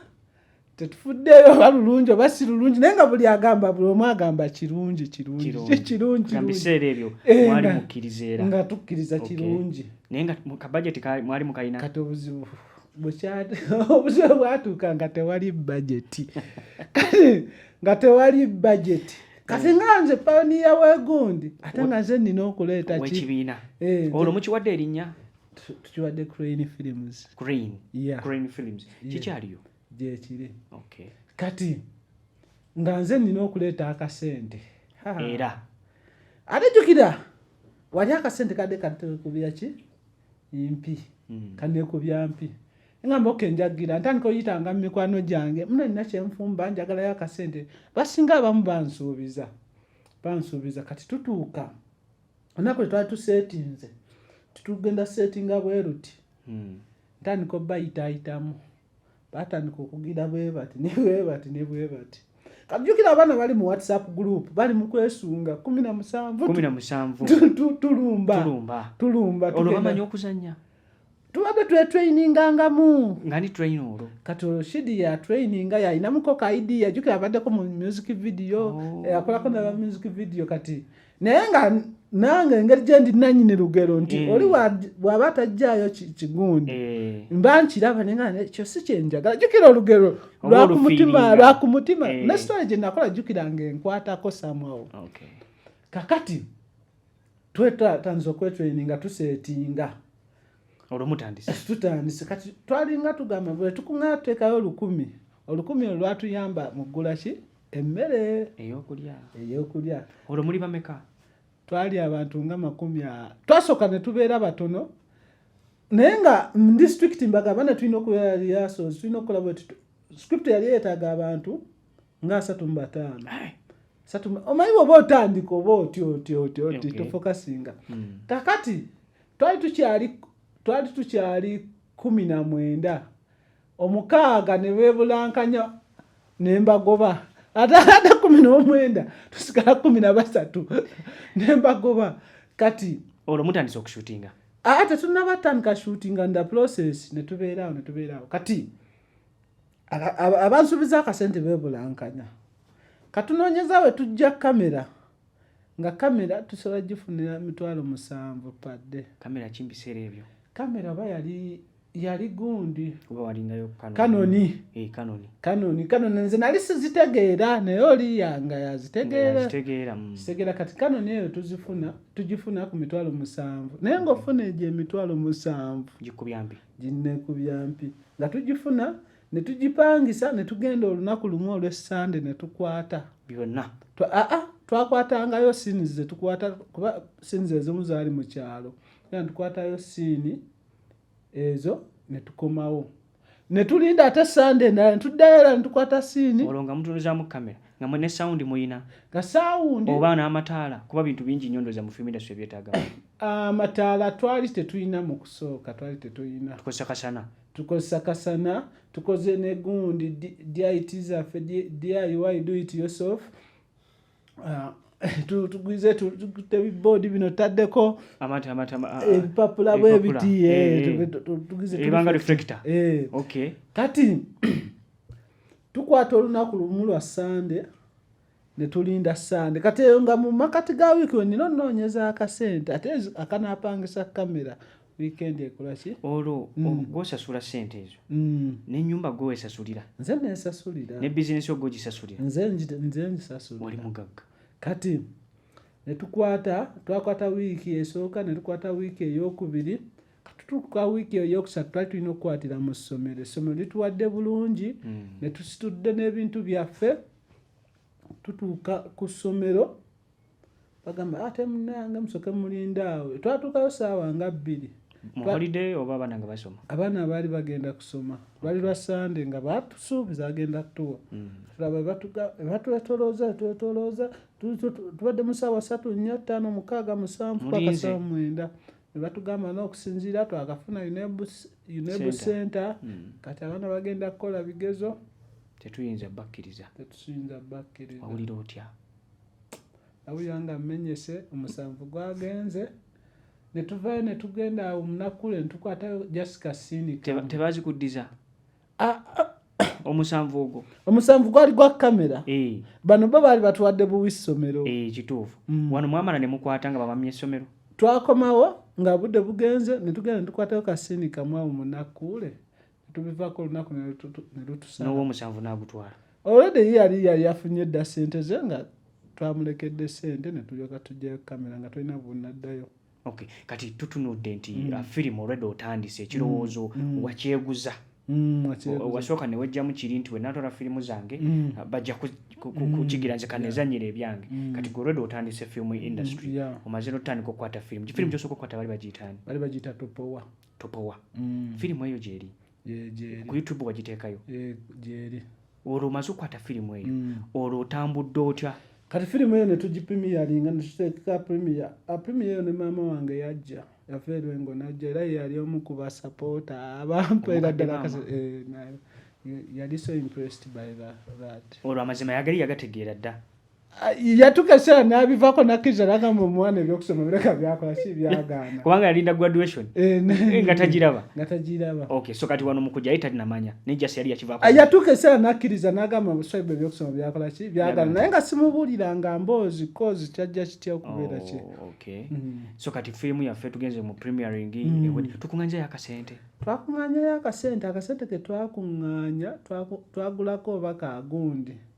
tetufuddeyo oba lulungi oba si lulungi naye nga buli agamba buli omu agamba kirungi kirungikirungibiseera ebyo eh, mwali mukkiriza era nga tukkiriza kirungi naye nga kabajeti mwali mukalina kati obuzibu obuzibu bwatuuka nga tewali bajeti kati nga tewali bajeti kati mm. nga nze pawuniya wegundi ate nga nze nina okuleeta ekibiina eh, olwo mukiwadde erinnya tukiwadde crane films crane yeah. crane films kikyaliyo yeah. gyekiri okay. kati nga nze nina okuleeta akasente era ate jukira wali akasente kadde katekubya ki mpi mm. kanekubya mpi ngamba oke njagira ntandika oyitanga mu mikwano gyange muno nina kyenfumba njagalayo akasente basinga abamu bansuubiza bansuubiza kati tutuuka onaku lwe twali tuseetinze titugenda seetinga bweruti hmm. ntandika obayitaayitamu batandika okugira bwe bati ne bwe bati ne bwe bati kajjukira abaana bali mu whatsapp group bali mu kwesunga kumi na musanvu tulumba tulumba olwo bamanyi okuzannya tubadde twetweiningangamu nga ni train olwo kati olwo shidi ya traininga yalinamuko ka idea jukira abaddeko mu music video oh. eh, akolako naba music video kati naye nga nange engeri gyendi nanyini lugero nti mm. oli waba atajjaayo kigundi eh. mba nkiraba nekyo si kyenjagala jukira olugero lwakumutima lwakumutima eh. nesitole gyenakola jukira nga enkwatako samwawo kakati twetatandiza okwetraininga tusetinga olwomutandise tutandise kati twalinga tugamba bwe tukuŋaa tuteekayo olukumi olukumi olwo lwatuyamba mu ggula ki emmere eyokulya eyokulya olwo muli bameka twali abantu nga makumi twasooka ne tubeera batono naye nga mu disitulikiti mbagamba ne tulina okubeera yasozi tulina okukola bwe script yali yeetaaga abantu nga asatu mu bataano eh. omanyi bwoba otandika oba otyo otyo otyo otyo tofokasinga hmm. kakati twali tukyali twali tukyali kumi na mwenda omukaaga ne beebulankanya ne mbagoba ate ate kumi n'omwenda tusigala kumi na basatu ne mbagoba kati olwo mutandisa okushutinga ate tunabatandika shutinga nda process ne tubeeraawo ne tubeeraawo kati abansuubiza akasente beebulankanya katunoonyeza we tujja kamera nga kamera tusobola gifunira mitwalo musanvu padde kamera ki mubiseera ebyo kamera oba yali yali gundi oba walingayo kanoni eh, kanoni kanoni kanoni nze nali sizitegeera naye oli yanga yazitegeera zitegeera mm. kati kanoni eyo tuzifuna tugifuna ku mitwalo musanvu naye ng'ofuna egyo emitwalo musanvu gikubyambi ginneekubyampi nga tugifuna ne tugipangisa ne tugenda olunaku lumu olw'essande ne tukwata byonna aa twakwatangayo siini ze tukwata kuba siini ze ezimu zaali mu kyalo era tukwatayo siini ezo ne tukomawo ne tulinda ate sande endala ne tuddayo era ne tukwata siini olwo nga mutunuzamu kamera nga mwe ne sound muyina nga sound oba n'amataala kuba bintu bingi nnyo ndoza mu film industry byetaaga amataala ah, twali tetulina mu kusooka twali tetulina tukozesa kasana tukozesa kasana tukoze ne gundi dit zaffe diy do it yourself ah, tugwize tebiboodi bino taddeko ebipapula bwebiti tugwize kati tukwata olunaku lumu lwa sande netulinda sande kati eyo nga mu makati ga wiiki wenina onoonyeza akasente ate akanapangisa kamera wiikendi ekolaki olwo mm. gwosasula sente ezo mm. nenyumba gwewesasulira nze nesasulira ne bizinesi ogwo gisasulira nze ngisasulira oli mugagga kati netukwata twakwata wiiki esooka netukwata wiiki eyokubiri katutuuka wiiki eyo yokusatu twali tulina okukwatira mu ssomero essomero lituwadde bulungi hmm. ne tusitudde n'ebintu byaffe tutuuka ku ssomero bagamba ate ah, munange musoke mulinde awo twatuukayo saawa nga bbiri abaana baali bagenda kusoma lwali lwa sande nga batusuubiza agenda kutuwa hmm. tulaba batwetolooza twetolooza tubadde mu saawa satu nnya ttaano mukaaga musanvu paka saawa mwenda ne batugamba na okusinziira twakafuna unebu center hmm. kati abaana bagenda kukola bigezo tetuyinza bakkiriza tetuyinza bakkiriza awulira otya awulira nga mmenyese omusanvu gwagenze ne tuvayo ne tugenda awo omunaku le ne tukwatayo jasika sini tebazikuddiza ah, ah. omusanvu ogwo omusanvu gwali gwa kamera eh. bano bo baali batuwadde buwi ssomero eh, kituufu mm. wano mwamala ne mukwata nga babamya essomero twakomawo nga budde bugenze ne tugenda ne tukwatayo kasiini kamu awo munakuule ne tubivaako olunaku ne lutusana n'owoomusanvu n'agutwala olwedde ye yali yali afunye dda ssente ze nga twamulekedde ssente ne tulyoka tujjayo kamera nga tulina bunaddayo Okay. Kati tutunudde nti mm. uh, firimu olwedde otandise ekirowoozo mm. mm. wakyeguza mm, wasooka newejjamu kiri nti wenatwala firimu zange mm. uh, bajja kukigira mm. nze kanezanyira ebyange mm. kati gwe olwedde otandise firimu mm, industry mm. yeah. omaze notandika okukwata firimu kifirimu mm. kyosooka okukwata bali bagiyitaani bali bagiyita topowa topowa mm. firimu eyo gyeri ku youtube wagiteekayo eh, gyeri olwo omaze okukwata firimu eyo mm. olwo otambudde otya kati firimu eyo netugipimiyaringa netuteeka primiya aprimiya ah, eyo ne maama wange yajja yava erwengo najja era yeyali omu ku basapoota abampeera ddala eh, yali so impressed by that olwo amazima yagali yagategeera dda yatuka ekiseera n'abivaako n'akkiriza n'agamba omwana ebyokusoma bireka byakola si byagaana kubanga yalinda graduation eh, eh, nga tagiraba nga tagiraba okay so kati wano mukujja ye talinamanya naye just yali yakivaako yatuuka ekiseera n'akkiriza n'agamba buswaibu ebyokusoma byakola ki byagaana naye nga simubuulira nga mboozi kozi kyajja kitya okubeera kye oh, okay mm. so kati firimu yaffe tugenze mu premiering mm. tukung'anja yakasente twakung'anyayo akasente akasente ke twakung'anya twagulako oba kagundi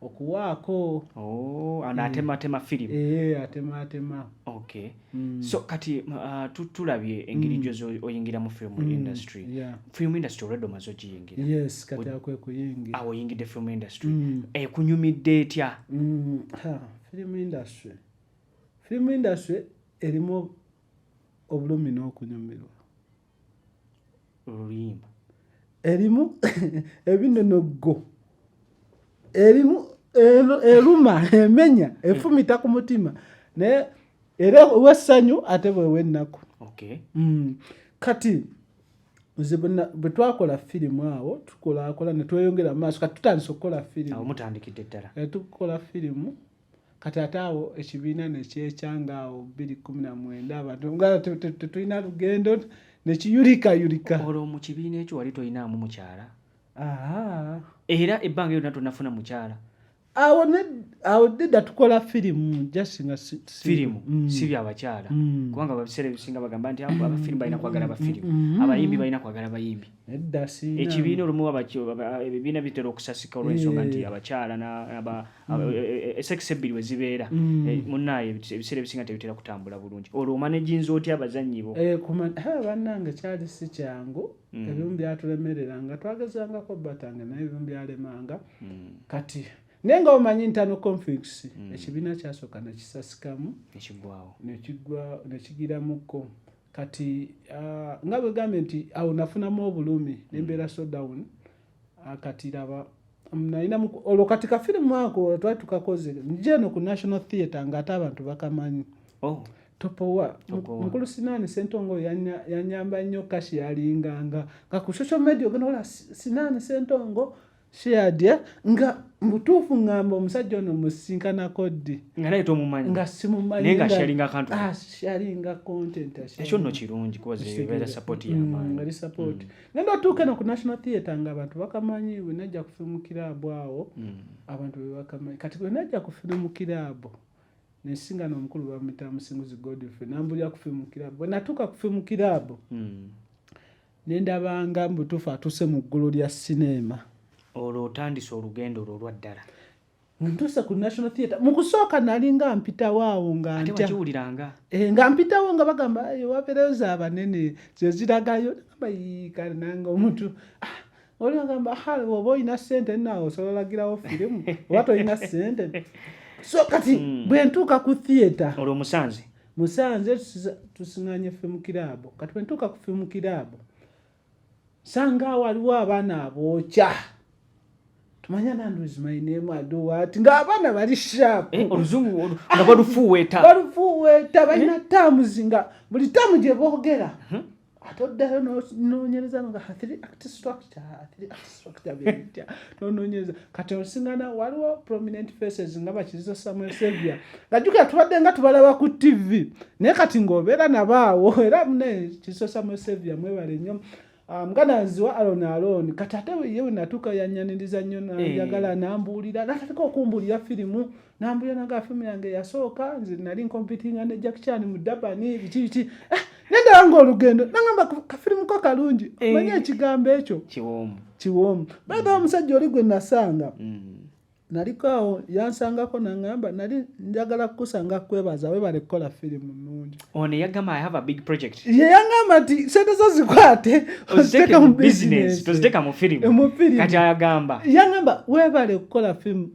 okuwaako oh, ano mm. atematema film eh, atematema okay mm. so kati uh, tulabye engeri mm. gyoza oyingira mu film mm. industry yeah. film industry olwedde omaze ogiyingira yes kati akwe kuyingira awo oyingidde film industry mm. ekunyumidde etya mm. film industry film industry erimu obulumi n'okunyumirwa oluyimba erimu ebinonoggo erimu eruma emenya efumita ku mutima naye era wessanyu ate bwewa ennaku mm. kati bwe twakola firimu awo tukolakola netweyongera maaso kati tutandise okukola firimu tukola firimu kati ate awo ekibiina nekyekyanga awo bbiri kumi na mwenda abantu nga tetulina lugendo nekiyulikayulika olwo mu kibiina ekyo wali tolinaamu mukyala era ebbanga lyonna tonafuna mukyala awo awo deda tukola firimu just nga firimu mm. si byabakyala mm. kubanga ababiseera ebisinga bagamba nti abo abafirimu balina kwagala bafirimu mm. abayimbi balina kwagala bayimbi ekibiina olumu ebibiina bitera okusasika olwensonga nti eh. abakyala Mm. E, e, e, sex ebbiri we zibeera mm. munaye ebiseera ebisinga tebitera kutambula bulungi olwo omanaginza otya abazannyi bo eh, bannange kyali si kyangu mm. ebimu byatulemerera nga twagezangako batanga naye ebimu byalemanga kati naye nga omanyi ntano conflicts ekibiina kyasooka nekisasikamu nekigiramuko kati ah, nga bwegambye nti awo nafunamu obulumi nembeera so down kati laba nalina olwo kati kafirimu ako twali tukakoze nja eno ku national theatre ngaate abantu bakamanyi oh. topowa mukulu sinaani sentongo yanyamba nnyo kashi yalinganga nga ku social media ogenda ola sinaani sentongo sheadya nga mubutuufu ngamba omusajja ono musisinkanako ddi nga simumanyialinga ah, content ekyo nno kirungi kubaali sapoti mm, mm. nenda otuuka eno ku national theatre nga abantu bakamanyi wenajja ku firimu kiraabu awo hmm. abantu bebakamanyi kati wenajja ku firimu kiraabu nensinga nomukulu bamuyita musinguzi godfrey nambulira ku firimu kiraabu wenatuuka ku firimu kiraabu hmm. nendabanga mubutuufu atuuse mu ggulu lya sineema olwo otandise olugendo olwo olwaddala ntuuse ku national theatre mu kusooka nali nga mpitawo awo nga ntyakiwuliranga e, eh, nga mpitawo nga bagamba wabeereyo za banene zeziragayo nagamba yiikale nange omuntu ah, oli agamba oba olina sente naawe osobola olagirawo firimu oba tolina sente so kati hmm. bwe ntuuka ku theatre olwo musanze musanze tusinganye fimukiraabo kati bwe ntuuka ku fimukiraabo sanga waliwo abaana abookya tumanya nanduzimayinemwadowaati ng'abaana bali shaapu eh, oluzungu nga balufuuweeta balufuuweeta balina eh? taamuzi nga buli taamu gye boogera mhm. ate oddayo noonyereza nga hathiri act structure hathiri act structure bebitya nononyeza kati onsingana waliwo prominent faces nga bakiriza samuel savia nga jukira tubadde nga tubalaba ku tv naye kati ngaobeera nabaawo era mune kiriza samuel savia mwebale nnyo Um, nga nanziwa alon alon kati ate ye wenatuuka yanyaniriza nnyo eh. njagala nambuulira natandika okumbuulira firimu Nambuya nange afimu yange eyasooka nze nali nkompitinga ne Jack Chan mu Durban biki biki eh, nendaba ng'olugendo nangamba kafirimu ko kalungi eh. manya ekigambo ekyo kiwoomu kiwoomu baga omusajja oli gwe nasanga mm. naliko awo yansangako nangamba nali njagala kukusanga kwebaza webale kukola firimu nungi ono yagamba i have a big project ye yangamba nti sente zo zikwate oziteka mu bizinesi toziteka mu firimu kati ayagamba yangamba webale kukola firimu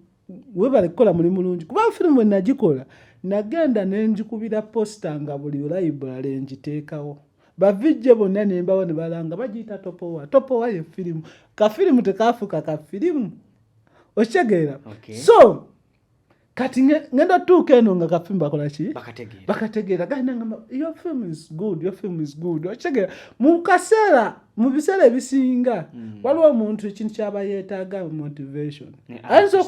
webale kukola muli mulungi kuba firimu bwe nagikola nagenda ne njikubira posita nga buli layibulale ngiteekawo bavijje bonna ne mbawa ne balanga bagiyita topowa topowa ye firimu kafirimu tekaafuuka ka firimu okitegeera so kati ngenda tuuka eno nga kafirimu bakola ki bakategeera gayina nga yo film is good yo film is good okitegeera mu kaseera mu biseera ebisinga mm. waliwo omuntu ekintu kyaba yeetaaga motivation ayinza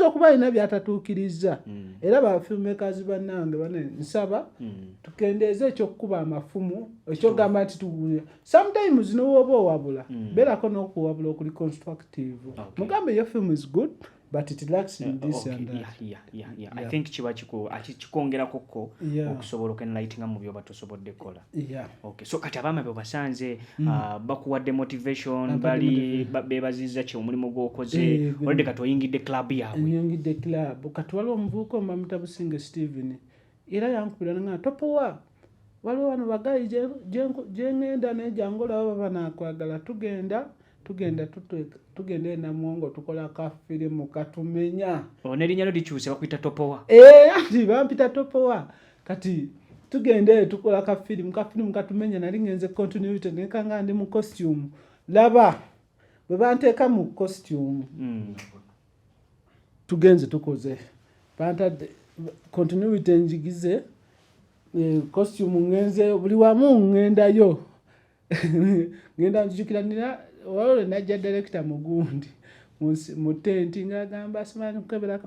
okuba alina eh, byatatuukirizza mm. era bafilmekazi bannange bane nsaba mm. tukendeeze ekyokukuba amafumu ekyogamba nti tuguya sometimes nowooba owabula beerako n'okuwabula okuli constructive mugambe yo film is good but it lacks in uh, this okay. and that yeah, yeah, yeah, yeah. yeah. i think kiba kiko kikongerako ko yeah. okusobola okenlightinga mu byoba tosobodde kola yeah. okay. so kati abaama bebasanze mm. uh, bakuwadde motivation Abadi bali ba, bebaziza kye omulimu gwokoze eh, olwadde kati oyingidde club yaabwe oyingidde club kati waliwo omuvuuka omamutabusinge steven era yankubira nga topowa waliwo wano bagayi gyengenda neja ngaolaba baba nakwagala tugenda tugenda tugenda enamwongo tukola ka firimu katumenya oh, nerinyalo likyuse bakuyita topowa eh, ati bampita topowa kati tugenda eyo tukola ka firimu ka firimu katumenya nali ngenze continuity nekanga ndi mu costume laba bwe banteeka mu costume mm. tugenze tukoze bantadde continuity njigize eh, costume ngenze buli wamu ngendayo ngenda njijukira nina olwalo lwe najja direkita mugundi mu tenti ng'agamba simanyi kukebera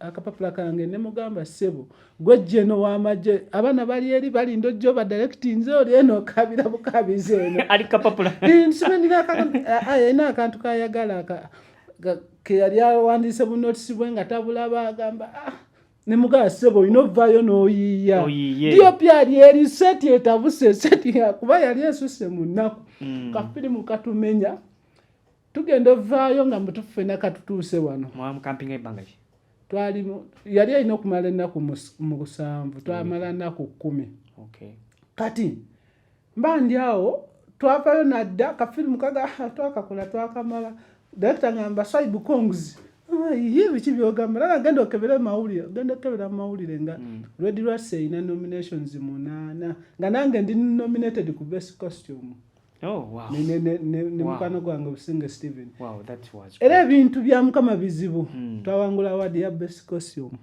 akapapula kange ne mugamba ssebo gwe jeno w'amagye abaana bali eri balinda ojjo badirekiti nze oli eno okabira bukabizi eno ali kapapula nsimanira alina akantu kayagala ke yali awandiise bu notisi bwe nga tabulaba agamba ah, ne mugala sebo olina ovaayo n'oyiiya diopi ali eri seti etabuse seti yakuba yali esuse mu nnaku mm. kafirimu katumenya tugenda ovaayo nga mutuffe nakatutuuse wano twalimu yali alina okumala ennaku mu lusanvu twamala nnaku kkumi kati mbandi awo twavayo nadda kafirimu kaga ah, twakakola twakamala direkita ngamba saibu congs ah, ye biki byogamba lala genda okebere mawulire genda okebera mu mawulire nga mm. red rats erina nominations munaana nga nange ndi nominated ku best costume Oh, ne mukwano gwange obusinga steven era ebintu bya mukama bizibu hmm. twawangula awadi ya best costume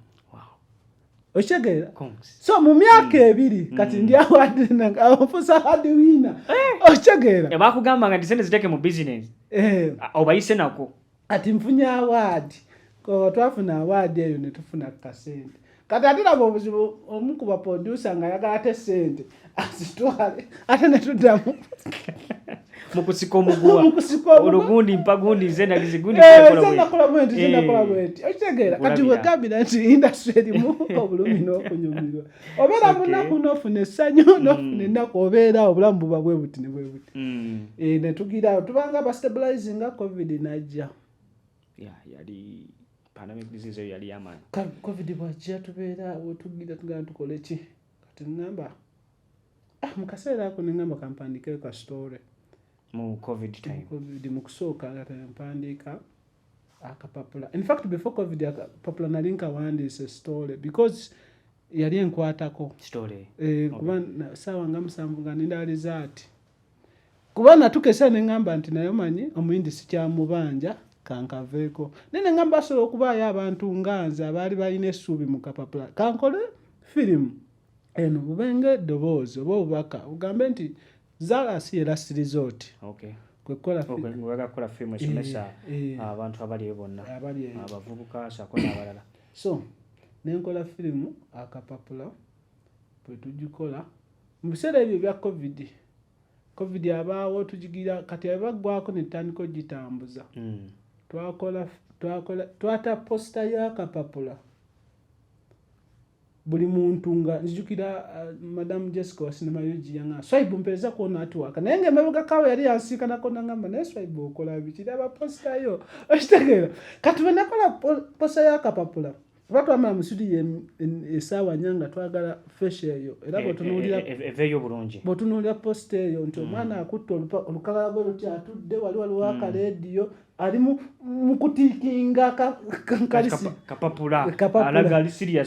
okitegeera so mu myaka mm. ebiri mm. kati ndi awadnfusa hadi wiina eh. okitegeera eh, bakugamba nga tisente ziteeke mu bizinesi eh. obayise nako kati nfunye awaadi twafuna awaadi eyo netufuna ku kasente kati ate laba obuzibu omu ku baproducer nga ayagala te sente azitwale ate netuddamu mukusika omuguwa olugundi mpagundi nze nagizigundi eh, nakola bwenti nze nakola eh, bwenti okitegeera kati wegambira nti indasitry erimu obulumi n'okunyumirwa obeera munaku nofuna essanyu mm. nofuna ennaku obeera obulamu buba bwe buti ne bwe buti mm. eh, netugiraawo tubanga bastabilizinga covid najja yali pandemic disease eyo yali yamaanyi covid bwajja tubeera wetugira tugana tukoleki kati ngamba ah, mu kaseera ako ne ngamba kampandiikeyo ka story mu covid time covid mu kusooka nga tempandiika akapapula in fact before covid akapapula nali nkawandiise story because yali enkwatako story eh, okay. kuba saawa nga musanvu nga nindaaliza ati kuba natukesa ne ŋŋamba nti naye omanyi omuyindi sikyamubanja kankaveeko naye ne ŋŋamba asobola okubaayo abantu nga nze abaali balina essuubi mu kapapula kankole firimu eno bube nga eddoboozi oba obubaka ogambe nti zaala si era sirizooti okay. kwekolakukola firimu esomesa eh, eh. abantu abali eyo bonna abavubuka sako n'abalala so nenkola firimu akapapula bwe tugikola Mu biseera ebyo ebya Covid, Covid abaawo tugigira kati aba ggwako ne tutandika ogitambuza. Mm. Twakola twakola twata posita y'akapapula buli muntu nga nzijukira uh, madamu Jessica Wasinamayugi yanga Swaibu mpereza kuona atuwaka naye nga emabega kawe yali yansiikanako nangamba naye Swaibu okola biki laba posita yo okitegeera kati bwe nakola posita y'akapapula kuba twamala mu situdiyo esaawa nya nga twagala fesha eyo era e, e, bwetunuulireveeyo e, bulungi bwetunuulira posita eyo nti mm. omwana akutte olukagala gwe luti atudde wali waliwo mm. akareediyo ali mukutiikinga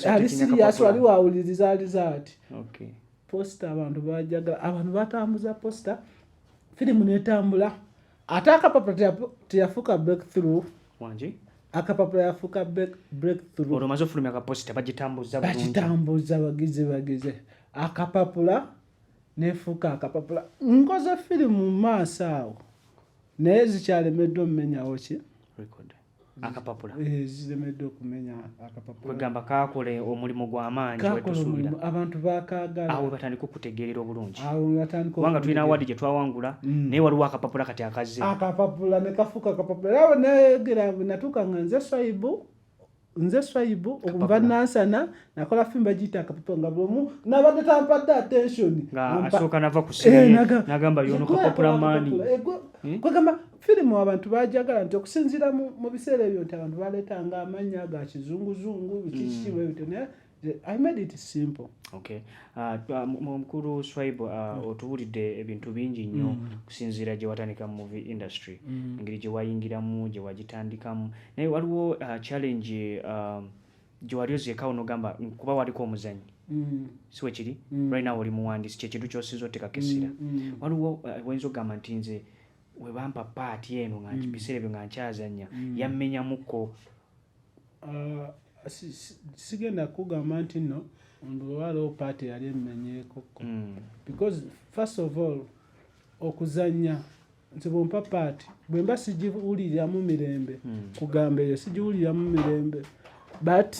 kalisiriyaswali wawuliriza aliza ati posita abantu bajagala abantu batambuza posita firimu netambula ate akapapula teyafuuka breakthrough akapapula yafuuka breakthrough olwo maze ofulumya kaposita bagitambuza bagitambuza bagize bagize akapapula nefuuka akapapula nkoze firimu mu maaso awo naye zikyalemeddwa omumenyawo ki akapapula eh, ziremeddwa okumenya akapapula kwegamba kaakole omulimu gw'amaanyi wetusuubira abantu bakaagala awo batandika okutegeerera obulungi kubanga tulina awaadi gye twawangula mm. naye waliwo akapapula kati akazze akapapula ne kafuuka akapapula era bwe nayogera bwe natuuka nga nze swaibu nze swaibu okuva nansana nakola fimu bagiyita akapapula nga bwomu nabadde tampadde attention asooka nava ku eh, nagamba yono kapapula maani eh, eh? kwegamba firimu abantu bajagala nti okusinziira mu biseera ebyo nti abantu baleetanga amannya ga kizunguzungu bikiki bwe bityo naye I made it simple. Okay. Uh, uh mkuru Swaibu uh, mm. otuwulidde ebintu bingi nnyo mm. kusinziira gye watandika mu movie industry mm. engeri gye wayingiramu gye wagitandikamu naye waliwo uh, challenge uh, gye wali ozeekawo n'ogamba kuba waliko omuzanyi mm. si we kiri mm. right now oli muwandiisi kyekintu kyosinza otekako essira mm. mm. waliwo uh, oyinza uh, okugamba nti nze webampa paati eno nga mm. biseera ebyo nga nkyazanya mm. yammenyamuko uh, sigenda kugamba nti no waliwo paati yali emmenyekoko mm. because first of all okuzanya nti bwempa paati bwemba sigiwuliriramu mirembe kugamba eyo sigiwuliriramu mirembe but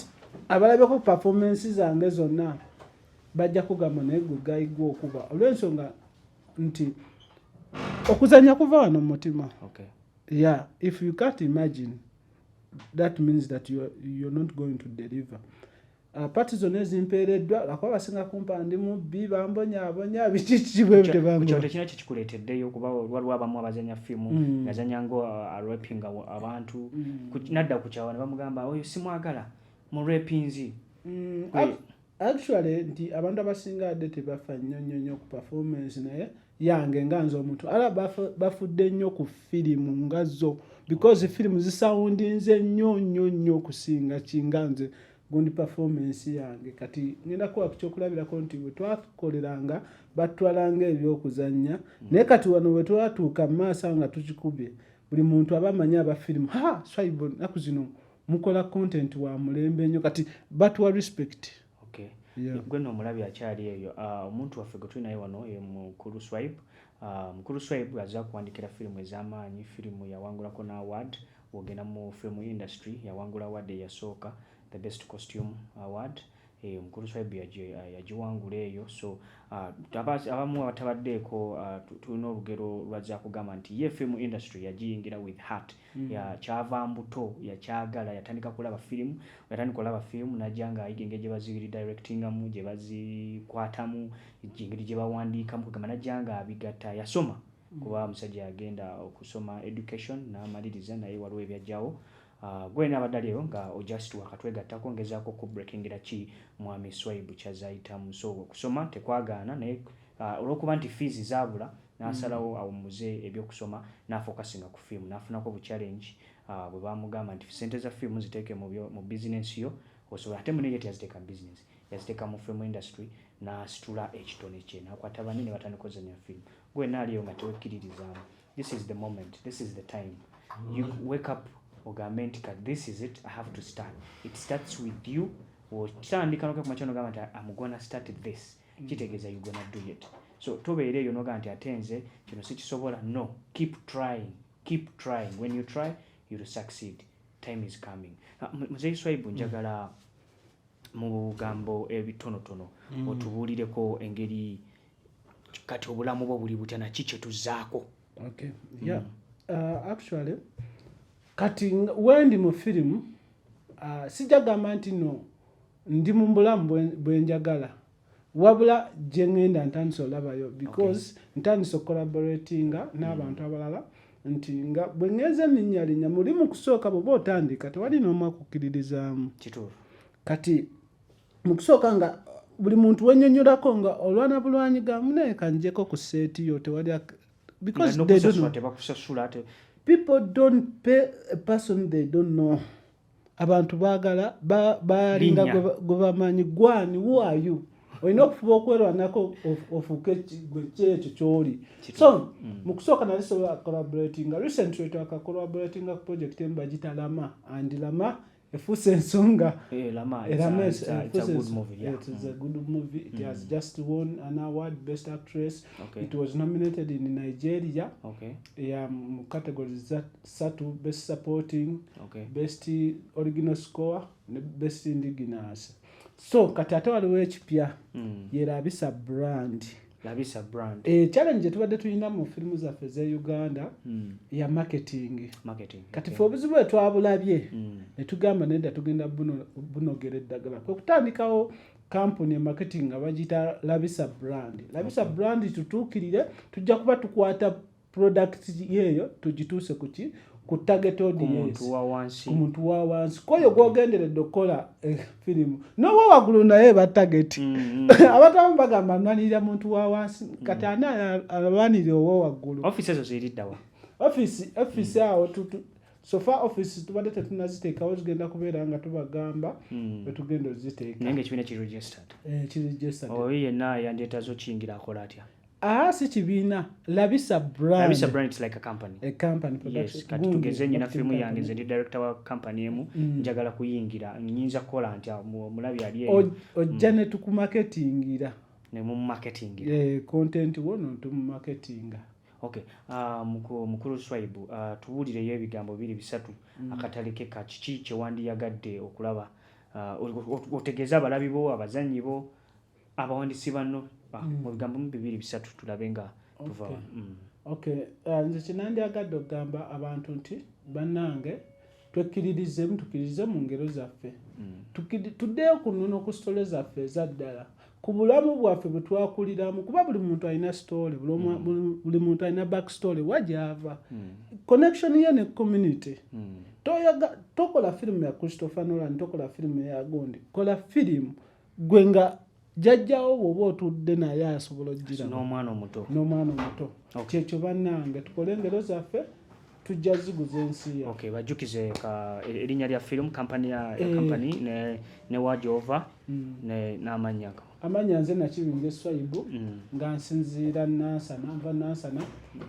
abalabeko performance zange zonna bajja kugamba naye gwe gayigwa okuba olwensonga nti okuzanya kuva wano mumutima okay. yeah if you can't imagine that means that you're, you're not going to deliver uh, pati zonna ezimpeereddwa lakuba basinga kumpa ndi mubbi bambonyabonya bikikibwebitebankyo tekina kikikuleeteddeyo okuba waliwo abamu abazanya fiimu mm. nazanya nga uh, arepinga abantu mm. nadda ku kyawa ne bamugamba oyo simwagala mu repinzi mm, actually nti abantu abasinga adde tebafa nnyo nnyo nnyo ku performance naye yange nga nze omuntu ala bafudde nnyo ku firimu nga zo because firimu zisawundinze nnyo nnyo nnyo okusinga kinga nze gundi performance yange kati ngenda kuwa ku kyokulabirako nti bwe twakoleranga batutwalanga ebyokuzannya mm. naye kati wano bwe twatuuka mu maaso nga tukikubye buli muntu aba amanyi aba firimu ha swaibo naku zino mukola content wa mulembe nyo kati batuwa respect okay. yeah. gwe no mulabi akyali eyo ah, omuntu uh, waffe gutuli naye wano ye mukulu swipe uh, mukulu swipe aza kuwandikira firimu ez'amaanyi firimu yawangulako na award wogenda mu firimu industry yawangula award eyasooka the best costume award eh, mukulu swipe eh, yagiwangula eyo so uh, abamu abatabaddeeko uh, tulina olugero lwazakugamba nti ye firimu industry yagiyingira with heart Hmm. ya kyava mbuto yakyagala yatandika kulaba firimu yatandika olaba firimu najja nga ayiga engeri gyebazibiri directingamu gyebazikwatamu engeri gyebawandiikamu kugamba najja nga abigatta yasoma hmm. kuba omusajja yagenda okusoma education namaliriza naye waliwo ebyajjawo ah, gwena abadde ali eyo nga ojust wakatwegattako ngezaako okubrekingira ki mwami swaibu kyazayitamu so okusoma tekwagaana naye Olw'okuba nti fiizi zaabula n'asalawo awummuze eby'okusoma n'afokasinga ku firimu. N'afunako bu challenge bwe baamugamba nti, ssente za firimu ziteeke mu bizinensi yo osobole ate munne ye teyaziteeka mu bizinensi, yaziteeka mu film industry n'asitula ekitone kye n'akwata banne ne batandika ozannya firimu. Ggwe wenna ali eyo nga tewekkiririzaamu, this is the moment, this is the time you wake up ogambe nti kati this is it, I have to start. It starts with you. Okitandika n'okya ku makya n'ogamba nti am gonna start this. mm. kitegeeza you gonna do it so tobeera eyo noga nti ate nze kino sikisobola no keep trying keep trying when you try you will succeed time is coming ah, muzeyi swaibu mm. njagala mu bugambo ebitonotono mm. otubuulireko engeri kati obulamu bwo buli butya naki kyetuzaako okay. yeah. mm. uh, actually kati wendi mu firimu uh, sijagamba nti no ndi mumbulamu bwenjagala wabula gyengenda ntandise olabayo because okay. ntandise okolaboratinga mm. n'abantu mm. abalala nti nga bwengenza eminyalinya muli mukusooka bwoba otandika tewali nomwakukiririzaamu kituufu kati mukusooka nga buli muntu wenyonyolako nga olwana bulwanyi ga munaye kanjeko ku seeti yo tewali because people don't pay a person they don't know abantu bagala balinga gwe bamanyi gwani wayu olina okufuba okwerwanako ofuuke kyekyo kyoli so mm. mu kusooka nali sobola collaboratinga recently twaka collaboratinga ku project emu bagita lama and lama efuuse ensonga erama eh, good movie it has mm. just won an award best actress it was nominated in nigeria ya mu categories that satu best supporting okay. best original score ne best indigenous so kati ate waliwo ekipya mm. yerabisa brand labisa brand e, challenge gyetubadde tulina mu firimu zaffe ze uganda mm. ya marketing, marketing. kati fe okay. obuzibu bwetwabulabye mm. netugamba nedda tugenda bunogera eddagala kwekutandikawo kampuni e marketing nga bagiyita labisa brand labisa okay. brand tutuukirire tujja kuba tukwata product yeeyo tugituuse kuki ku target audience ku muntu wa wansi kwoyo gwogenderedde okukola eh, firimu nowa waggulu naye ba target mm-hmm. abantu abamu bagamba nwanirira muntu wa wansi kati ani alwanirira owa waggulu office ezo ziriddawa office office mm. awo sofa office tubadde tetunaziteekawo zigenda kubeera nga tubagamba hmm. wetugenda oziteeka naye ngaekibiina kiregistered eh, kiregistered oyo yenna yandyetaza okiyingira akola atya Aha si kibiina labisa brand labisa brand it's like a company a company production yes kati tugeze nyina film yange nze ndi director wa company emu mm. njagala kuyingira nyinza kola nti mulabi ali eyo ojja mm. ne tuku marketingira ne mu marketingira eh content wono tu marketinga okay uh, mukuru, mukuru swaibu uh, ah, tubulire yo ebigambo biri bisatu mm. akataleke ka kiki kye wandi yagadde okulaba uh, otegeza abalabi bo abazanyi bo abawandiisi banno ah, mm. mu bigambo mu bibiri bisatu tulabe nga tuva mm. ok ah, nze kinandyagadde okugamba abantu nti bannange twekkiririzemu tukkiririze mu ngero zaffe mm. tuddeyo ku nnono ku sitole zaffe eza ddala ku bulamu bwaffe bwe twakuliramu kuba buli muntu alina sitole buli muntu alina back story wa gyava connection ye ne community tokola firimu ya christopher nolan tokola firimu ya gundi kola firimu gwe nga jajjawo bwoba otudde naye asobola ojjiranomwana omuto n'omwana omuto kyekyo bannange tukole engero zaffe tujja ziguza ensi ya okay bajjukize ka e, erinnya lya film company ya eh. company ne ne wajova mm. ne n'amannya amannya nze nakibinja eswaibu mm. nga nsinziira nansana nva nansana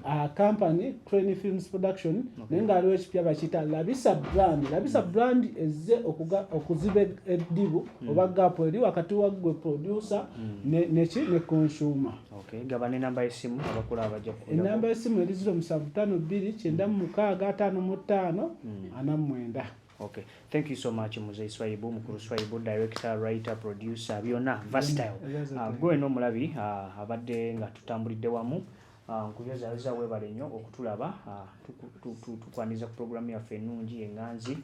uh, company crane films production okay. naye nga aliwo ekipya bakiyita labisa brand labisa mm. brand ezze okuziba eddibu mm. oba gapu eri wakati waggwe producer mm. neki ne consumer enamba yesimu eri ziro musanvu tano bbiri kyenda mu mukaaga ataano mu ttaano mm. ana mu mwenda Okay. Thank you so much Mzee Swaibu, Mkuru Swaibu, director, writer, producer, byona versatile. Uh, ah, gwe no mulabi uh, ah, abadde nga tutambulidde wamu ah, nkuyozayoza uh, webale nnyo okutulaba uh, tukwaniza ku programu yaffe ennungi enganzi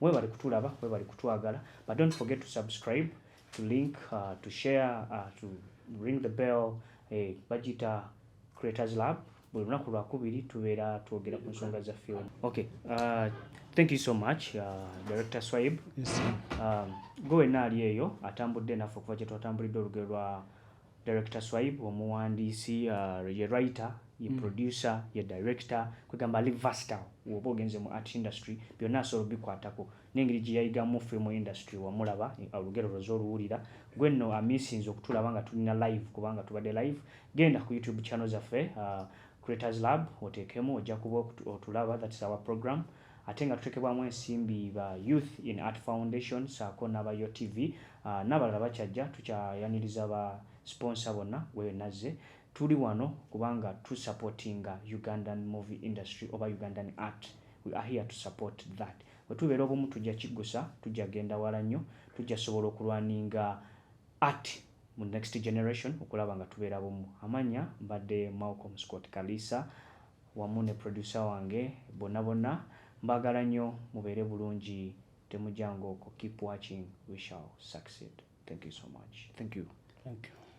webale kutulaba webale kutwagala but don't forget to subscribe to link uh, to share uh, to ring the bell eh, bagita creators lab buli lunaku lwakubiri tubeera twogera ku nsonga za film okay uh, thank you so much uh, director swaib yes, um, gwe wenna ali eyo atambudde naffe okuva kyetwatambulidde olugero lwa Director Swaib omuwandiisi uh, ye writer ye mm. producer mm. ye director kwegamba ali versatile woba ogenze mu art industry byonna asobola obikwatako n'engeri gye yayigamu film industry wamulaba olugero lwoza oluwulira gwe nno amisinze okutulaba nga tulina live kubanga tubadde live genda ku youtube channel zaffe uh, creators lab oteekemu ojja kuba otulaba that's our program ate nga tutekebwamu ensimbi ba Youth in Art Foundation saako naba YOTV nabalala bakyajja tukyayaniriza ba sponsor bonna webenazze tuli wano kubanga tu supportinga Ugandan movie industry oba Ugandan art we are here to support that wetubera obumu tujja kiggusa tujja genda wala nnyo tujja sobola okulwaninga art mu next generation okulaba nga tubera bumu amanya mbadde Malcolm Scott Kalisa wamu ne producer wange bonna bonna mbagala nyo mubeere bulungi temujanga okwo keep watching we shall succeed thank you so much. Thank you. Thank you.